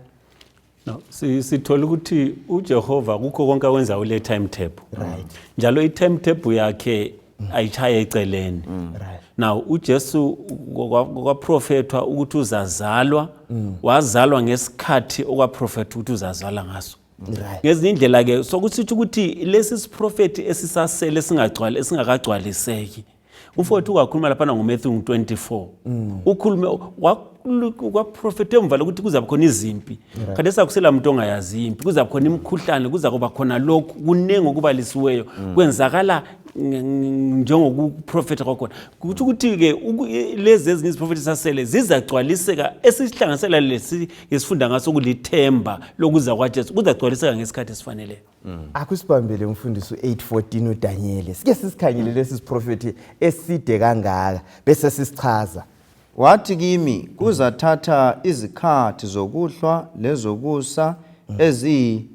No, sithola ukuthi uJehova kukho konke akwenza ule timetable. Right. Njalo i timetable yakhe ayishaye eceleni. Mm. Right. Now uJesu kwaprofethwa ukuthi uzazalwa, mm. wazalwa ngesikhathi okwaprofethwa ukuthi uzazalwa ngaso. ngezinye indlela ke sokusitsho ukuthi lesi siprofethi esisasele esingagcwali esingakagcwaliseki Ufowethu wakhuluma laphana ngoMatthew 24. Mm. Ukhulume kwaprofethe emva lokuthi kuzabe khona izimpi right. khathesi akusela muntu ongayazi impi kuzabe khona imikhuhlane kuza kuba khona lokhu kuningi okubalisiweyo mm. kwenzakala njengokuprofetha kwakhona kuthi ukuthi-ke lezi ezinye iziprofethi sasele zizagcwaliseka esihlanganisela lesi ngesifunda ngaso kulithemba lokuza kwajesu kuzagcwaliseka ngesikhathi esifaneleyo Mm. akusibambele umfundisi u-814 udanyele sike sisikhangele lesi siprofethi eside kangaka bese sisichaza wathi kimi kuzathatha izikhathi zokuhlwa lezokusa mm. eziyi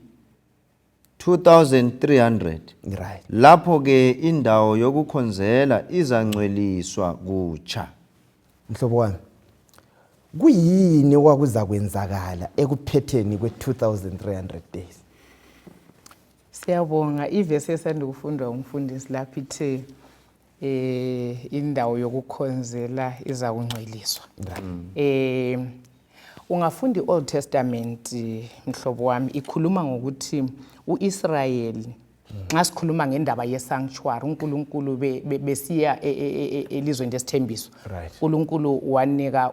2300 right lapho ke indawo yokukhonzela izangcweliswa kutsha Mhlobo wami, kuyini okwakuzakwenzakala ekuphetheni kwe-2300 days? Siyabonga ivesi esanda kufundwa umfundisi lapho ithe eh indawo yokukhonzela izakungcweliswa. Mm. Eh ungafunda iOld Testament mhlobo wami ikhuluma ngokuthi uIsrayeli nxa sikhuluma ngendaba yesanctuary unkulunkulu besiya e, e, e, elizweni lesithembiso unkulunkulu wanika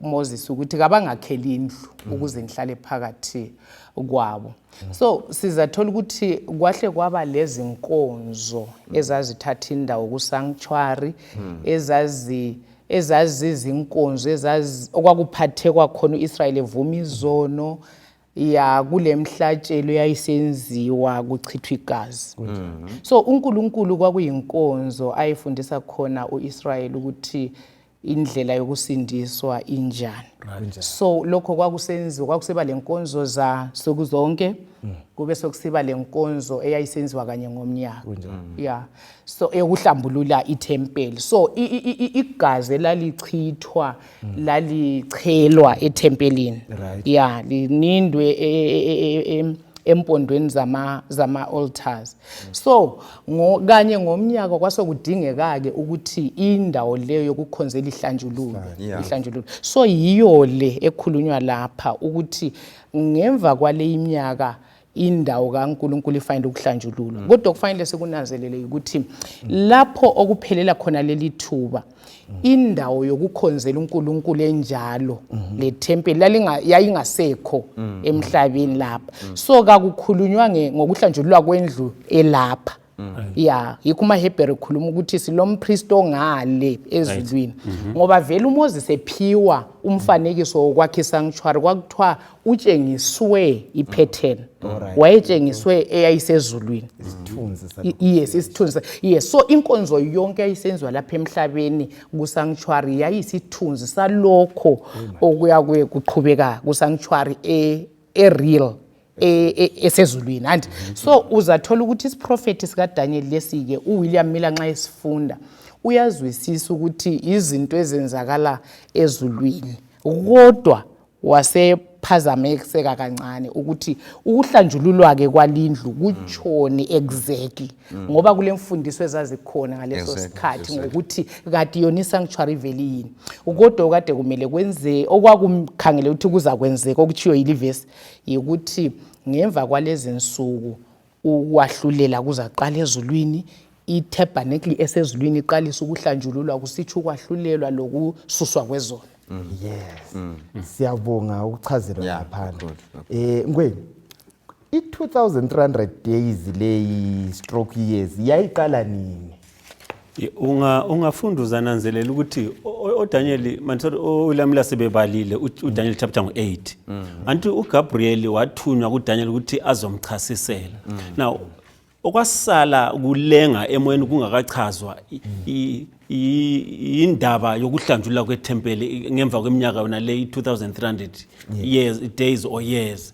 umoses ukuthi kabangakheli indlu mm. ukuze ngihlale phakathi kwabo mm. so sizathola ukuthi kwahle kwaba lezinkonzo mm. ezazithatha indawo kusanctuary ezazi ezazizinkonzo okwakuphathekwa khona u-israyeli evuma izono mm. ya kule mhlatshelo yayisenziwa kuchithwa igazi mm-hmm. so unkulunkulu kwakuyinkonzo ayefundisa khona u-israyeli ukuthi indlela yokusindiswa injani so lokho kwakusenziwa kwakuseba le nkonzo zansuku zonke mm. kube sokusiba le nkonzo eyayisenziwa kanye ngomnyaka mm. ya so eyokuhlambulula ithempeli so igazi elalichithwa mm. lalichelwa ethempelini right. ya linindwe e, e, e, e, empondweni zama zama altars mm. so ngo, kanye ngomnyaka kwasokudingeka-ke ukuthi indawo leyo yokukhonzela ihlanjululwe yeah. ihlanjululwe so yiyo le ekhulunywa lapha ukuthi ngemva kwale iminyaka indawo kaNkulunkulu ifanele ukuhlanjululwa mm. kodwa kufanele sikunanzelele ukuthi lapho okuphelela khona leli thuba mm. indawo yokukhonzela uNkulunkulu enjalo mm-hmm. lethempeli yayingasekho mm. emhlabeni lapha so kakukhulunywa ngokuhlanjululwa kwendlu elapha Mm. ya yikho umahebhere ekhuluma ukuthi silompristi ongale ezulwini mm-hmm. ngoba vele umoses ephiwa umfanekiso wokwakha isanctuary kwakuthiwa utshengiswe iphetheni wayetshengiswe eyayisezulwini yes isithunzi yes so inkonzo yonke yayisenziwa lapha emhlabeni kusanctuary yayisithunzi salokho okuya kuye kuqhubeka kusanctuary e-real e e, e, esezulwini e, anti mm-hmm. so uzathola ukuthi isiprofethi sikadanyeli lesi-ke uwilliam miller nxa esifunda uyazwisisa ukuthi izinto ezenzakala ezulwini kodwa wasephazamiseka kancane ukuthi ukuhlanjululwa-ke kwalindlu kutshoni exactly mm. ngoba kule mfundiso ezazikhona ngaleso sikhathi ngokuthi kati yona isanctuary veli yini kodwa okade kumele kwenzeke okwakukhangele ukuthi kuzakwenzeka okutshiwo yilivesi yikuthi ngemva kwalezi nsuku ukwahlulela kuzaqala ezulwini ithabernacle esezulwini iqalisa ukuhlanjululwa kusitsho ukwahlulelwa lokususwa kwezono mm. yes mm. mm. siyabonga ukuchazelwa ngaphandle eh ngweni i-2300 days leyi stroke years yayiqala nini unga ungafunda uzananzelela ukuthi oDaniel mansothi olamla sebebalile uDaniel chapter ngo8 mm. anti uGabriel wathunywa kuDaniel ukuthi azomchasisela mm. now okwasala kulenga emoyeni kungakachazwa indaba yokuhlanjulwa kwethempeli ngemva kweminyaka yona le 2300 years days or years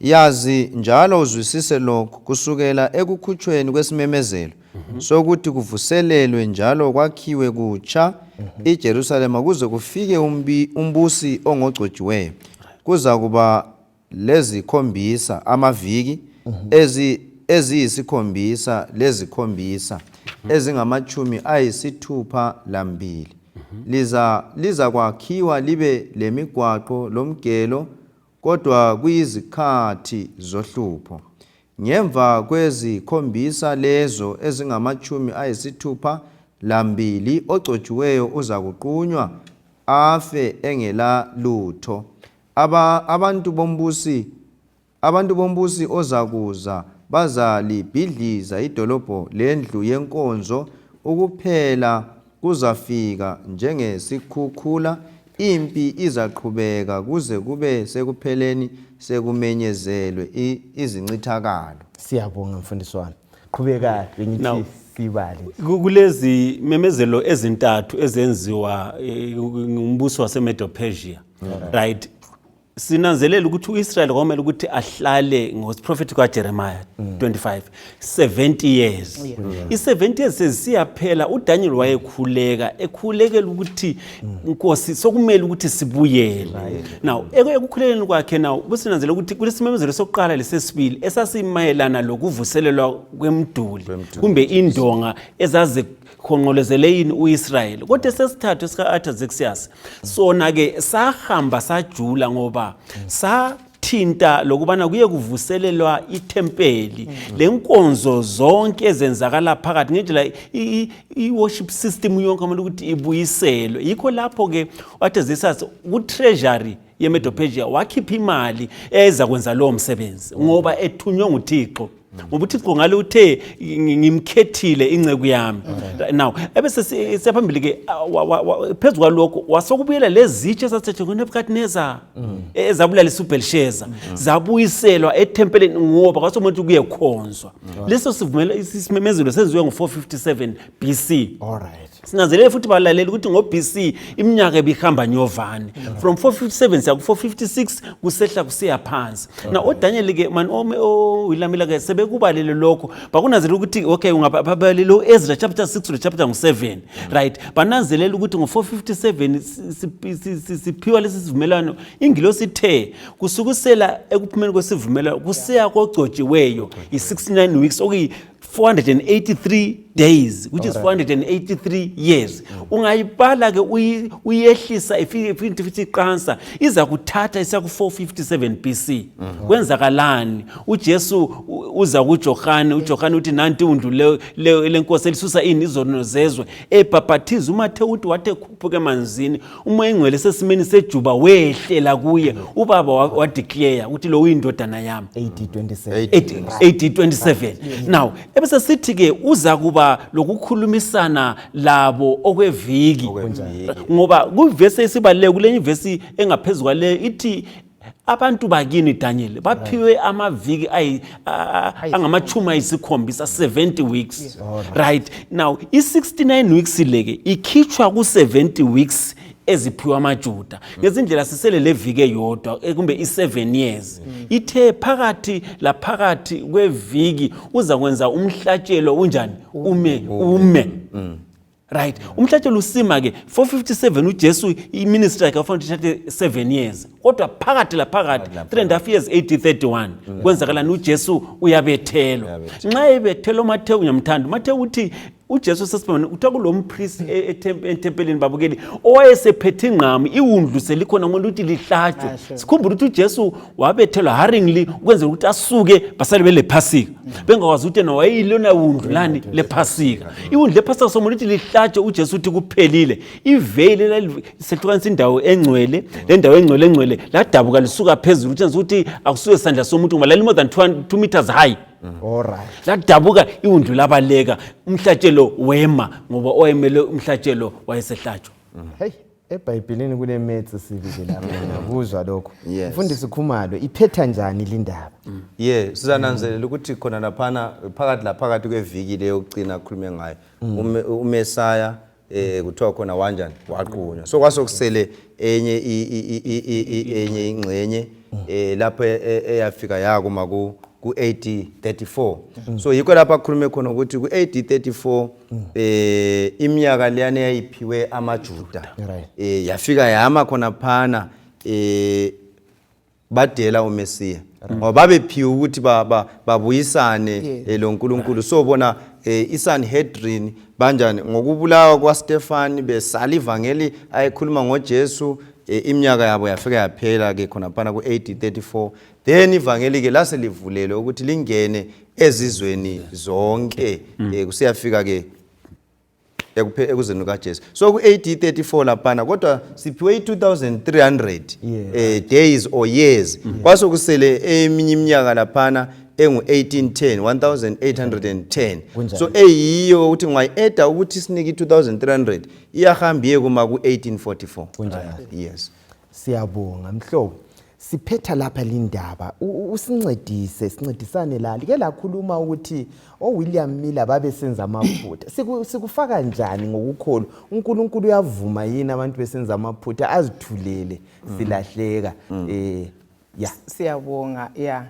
yazi njalo uzwisise lokhu kusukela ekukhutshweni kwesimemezelo mhm. sokuthi kuvuselelwe njalo kwakhiwe kutsha mhm. iJerusalema kuze kufike umbusi ongogcotshiweyo kuzakuba lezikhombisa amaviki mhm. ezi eziyisikhombisa lezikhombisa ezingamatshumi ayisithupha lambili mhm. liza lizakwakhiwa libe lemigwaqo lomgelo kodwa kuyizikhathi zohlupho ngemva kwezikhombisa lezo ezingamatshumi ayisithupha lambili ogcotshiweyo uzakuqunywa afe engela lutho aba abantu bombusi Abantu bombusi ozakuza bazalibhidliza idolobho lendlu yenkonzo, ukuphela kuzafika njengesikhukhula, impi izaqhubeka kuze kube sekupheleni sekumenyezelwe izincithakalo. Siyabonga mfundisi wami. Qhubeka bengithi sibale. Kulezi memezelo ezintathu ezenziwa eh, ngumbuso waseMedo-Persia. Right. sinanzelela ukuthi uIsrael kwamele ukuthi ahlale ngosiprophet kwaJeremiah 25 70 years i70 years sesiyaphela uDaniel wayekhuleka ekhulekela ukuthi inkosi sokumele ukuthi sibuyele now ekukhulekeni kwakhe now businanzela ukuthi kulesimemezelo sokuqala lesesibili esasimayelana lokuvuselelwa kwemduli kumbe indonga ezaze khonqolezele yini uIsrayeli kodwa sesithathu sika Artaxerxes sona ke sahamba sajula ngoba sa thinta lokubana kuye kuvuselelwa ithempeli mm. lenkonzo zonke ezenzakala phakathi ngendlela i-worship system yonke amele ukuthi ibuyiselwe yikho lapho-ke wathi zisas ku-treasury yemedophejiya wakhipha imali eza kwenza lowo msebenzi ngoba ethunywe nguthixo ngoba uthixo ngale uthe ngimkhethile inceku yami now ebese siyaphambili ke phezu kwalokho wasokubuyela lezitshe esathethe kunebukadineza mm. e, ezabulalisa ubhelisheza mm. zabuyiselwa ethempeleni ngoba kwasomuntu kuyekhonzwa mm. leso sisimemezelo senziwe ngo-457 b c All right. sinanzelele futhi balalela ukuthi ngo-bc iminyaka ebihamba nyovane from 457 siya ku-456 kusehla kusiya phansi na odanyeli ke mani owilamila ke sebekubalele lokho bakunanzelela ukuthi okay ungabalele u-ezra chapter 6 to chapter ngu-7 right bananzelela ukuthi ngo-457 siphiwa lesi sivumelwano ingilo sithe kusukusela ekuphumeni kwesivumelwano kusiya kogcotshiweyo yi-69 weeks okuyi 483 days which is 483 years mm. ungayibala ke uyehlisa ifike futhi futhi iqansa iza kuthatha isa ku 457 BC mm-hmm. kwenzakalani uJesu uza kuJohane uJohane uthi nanti undlu le lenkosi elisusa ini izono zezwe ebhaphathiza uMathewu uthi wathi ekhuphuke emanzini umoya engcwele sesimeni sejuba wehlela kuye ubaba wadeclare ukuthi lo uyindodana yami AD 27 now ebese sithi ke uza kuba lokukhulumisana labo okweviki ngoba kuvesi esibaluleke kulenye ivesi engaphezulu kwale ithi abantu bakini daniel baphiwe amaviki angamachumi ayisikhombisa 70 weeks right now i-69 weeks leke ikhitshwa ku-70 weeks eziphiwa amajuda ngezindlela sisele levike yodwa eh, kumbe i-7 years ithe phakathi laphakathi kweviki uza kwenza umhlatshelo unjani ume ume mm. right umhlatshelo usima ke 457 ujesu iministry yakhe wafanele uthathe 7 years kodwa phakathi laphakathi 3 and half years 831 mm. kwenzakalani ujesu uyabethelwa nxa ebethelwa umathewu ngiyamthanda umathewu uthi ujesu sesibona kuthiwa kulo mpristi e-, etempeleni babukeli owayesephethe ingqamu iwundlu selikhona ngomuntu ukuthi lihlatshwe sikhumbula ukuthi ujesu wabethelwa haringly ukwenzela ukuthi asuke basale belephasika bengakwazi ukuthi yena wayeyilona wundu lani lephasika iwundu lephasika somuntu ukuthi lihlatshe ujesu uthi kuphelile iveyili elalihlukanisa indawo engcwele le ndawo engcwele engcwele ladabuka lisuka phezulu utshenzisa ukuthi akusuke sandla somuntu ngoba lali more than two meters high ladabuka iwundu labaleka umhlatshelo wema ngoba owayemele umhlatshelo wayesehlatshwa mm. ebhayibhilini kulemetsi sibili lapha ngiyakuzwa lokho Yes. mfundisi khumalo iphetha njani lindaba ye sizananzelela ukuthi khona laphana phakathi laphakathi kweviki le yokucina akhulume ngayo Ume- umesaya um kuthiwa khona wanjani waqunywa so kwasokusele enye i- i- i- i- i- i- enye ingxenye um lapho e- e- eyafika yakuma ku-ad 34 so yikho lapho akhulume khona ukuthi ku-ad 34 mm. eh imiyaka leyana yayiphiwe amaJuda right. eh yafika yama khona phana eh badela uMesiya right. ngoba babephiwe ukuthi baba babuyisane yeah. eh, lo Nkulunkulu right. so bona eh iSanhedrin banjani ngokubulawa kwaStefani besala ivangeli ayekhuluma ngoJesu eh, iminyaka yabo yafika yaphela ke khona phana ku-AD 34 then ivangeli ke lase livulelwe ukuthi lingene ezizweni zonke mm. eh, kusiyafika ke ekuzeni kukajesu so ku-ad 34 laphana kodwa siphiwe i-2300 eh, days or years mm. kwase kusele eminye iminyaka laphana engu-1810 1810 so eyiyo ukuthi ungayi-eda ukuthi sinike i-2300 iyahamba iye kuma ku-1844 yes siyabonga mhlobo siphetha lapha lindaba usincedise sincedisane la like lakhuluma ukuthi owilliam oh, miller babesenza amaphutha sikufaka njani ngokukholwa unkulunkulu uyavuma yini abantu besenza amaphutha azithulele mm. silahleka um mm. eh, ya siyabonga ya yeah.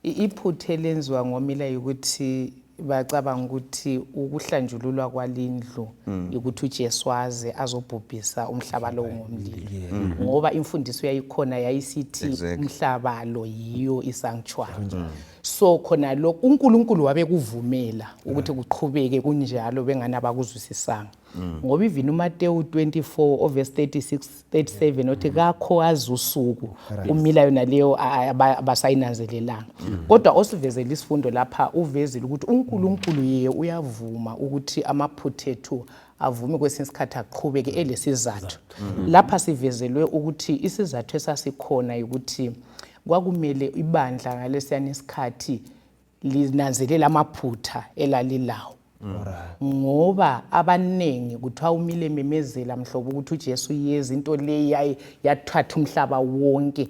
Iphutha elenziwa ngomila yikuthi bacabanga ukuthi ukuhlanjululwa kwalindlu mm. yikuthi uJesu aze azobhubhisa umhlaba lowo ngomlilo mm. ngoba imfundiso yayikhona yayisithi umhlaba lo yiyo isanctuary mm. so khona lokho uNkulunkulu wabekuvumela ukuthi kuqhubeke kunjalo bengani abakuzwisisanga mm. ngoba even umatewu 24 ovesi 36 37 othi mm. kakho azi usuku umila yona leyo abasayinanzelelanga mm. kodwa osivezela isifundo lapha uvezile ukuthi unkulunkulu yeye uyavuma ukuthi amaphutha ethu avume kwesinye isikhathi aqhubeke elesizathu lapha sivezelwe ukuthi isizathu esasikhona ukuthi kwakumele ibandla ngalesiyana isikhathi linanzelela amaphutha elalilawo ngoba abaningi kuthiwa umile memezela mhlobo ukuthi uJesu yeza into leyi yaye yathatha umhlaba wonke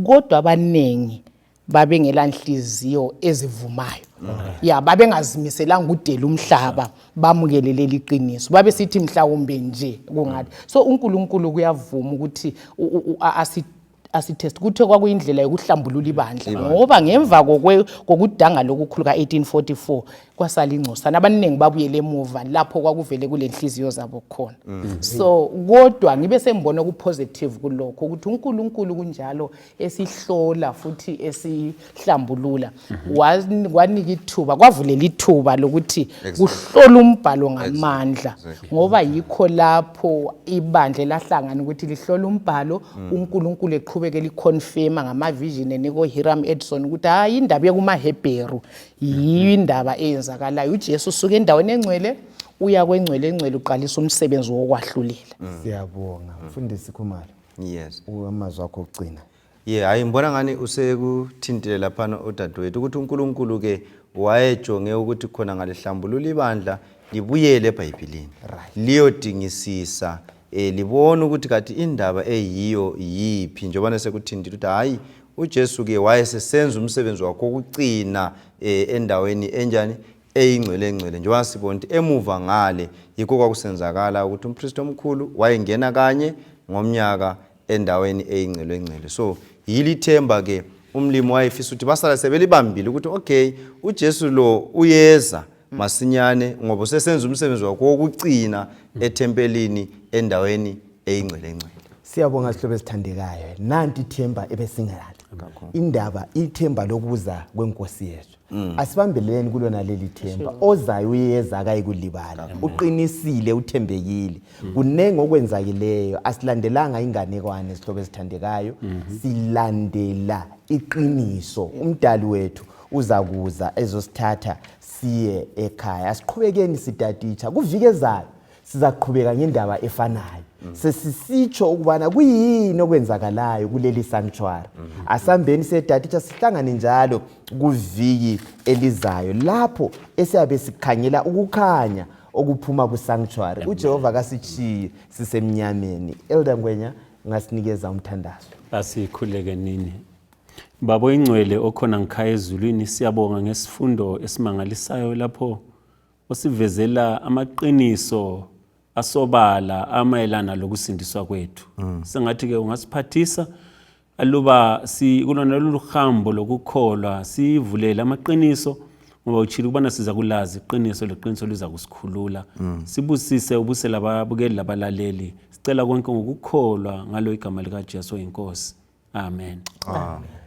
kodwa abaningi babengela nhliziyo ezivumayo ya babengazimiselanga ukudela umhlaba bamukele leli qiniso babesithi mhlawumbe nje kungathi so uNkulunkulu kuyavuma ukuthi asi asitest kuthiwe kwakuyindlela yokuhlambulula ibandla ngoba ngemva kokudanga lokukhulu ka-1844 kwasala ingcosana abaningi babuyele emuva lapho kwakuvele kule nhliziyo zabo khona mm. so kodwa ngibe sengibona okupositive kulokho ukuthi unkulunkulu kunjalo esihlola futhi hlambulula wan- wanika ithuba kwavulela ithuba lokuthi Exactly. kuhlola umbhalo ngamandla Exactly. ngoba yikho lapho ibandla elahlangana ukuthi lihlola umbhalo unkulunkulu eqhubeke liconfirma ngamavision enika uhiram edison ukuthi hayi indaba ekumahebheru yiyo indaba eyenzakalayo ujesu usuka endaweni engcwele uya kwengcwele engcwele uqalisa umsebenzi wokwahlulela siyabonga mfundisi khumalo yes amazwi akho okugcina ye yeah, hayi ngibona ngani usekuthintile laphana udadewethu ukuthi unkulunkulu-ke wayejonge ukuthi khona ngalihlambulula ibandla libuyele ebhayibhilini right. liyodingisisa eh libona ukuthi kathi indaba eyiyo yiphi njengobana sekuthindile ukuthi hhayi ujesu ke wayesesenza umsebenzi wakho wokucina eh endaweni enjani eyingcwele engcwele njengoba sibona ukuthi emuva ngale yikho kwakusenzakala ukuthi umpristi omkhulu wayengena kanye ngomnyaka endaweni eyingcelwengcele so yilithemba ke umlimi wayefisa ukuthi basala sebelibambile ukuthi okay uJesu lo uyeza masinyane ngoba usesenza umsebenzi wakhe wokucina ethempelini endaweni eyingcelengcele siyabonga sihlobo esithandekayo nanti ithemba ebesingalalo indaba ithemba lokuza kwenkosi yethu Mm. asibambeleleni kulona leli themba ozayo uyeza akayikulibala uqinisile uthembekile mm. kuningi okwenzakileyo asilandelanga inganekwane sihlobo esithandekayo mm-hmm. silandela iqiniso umdali wethu uza kuza ezosithatha siye ekhaya asiqhubekeni sitatitsha kuvike ezayo sizaqhubeka ngendaba efanayo mm. sesisitsho ukubana kuyini okwenzakalayo kuleli sanctuary mm -hmm. asambeni sedatitsha sihlangane njalo kuviki elizayo lapho esiyabe sikhangela ukukhanya okuphuma kusanctuary ujehova kasitshiyi sisemnyameni elder ngwenya ngasinikeza umthandazo asikhuleke nini babo ingcwele okhona ngikhaya ezulwini siyabonga ngesifundo esimangalisayo lapho osivezela amaqiniso asobala amayelana lokusindiswa kwethu mm. sengathi ke ungasiphathisa aluba sikulona lolu hambo lokukholwa sivulele amaqiniso ngoba utshile ukubana siza kulazi iqiniso leqiniso liza kusikhulula mm. sibusise ubuse lababukeli labalaleli sicela konke ngokukholwa ngalo igama likajesu oyinkosi amen, amen. amen.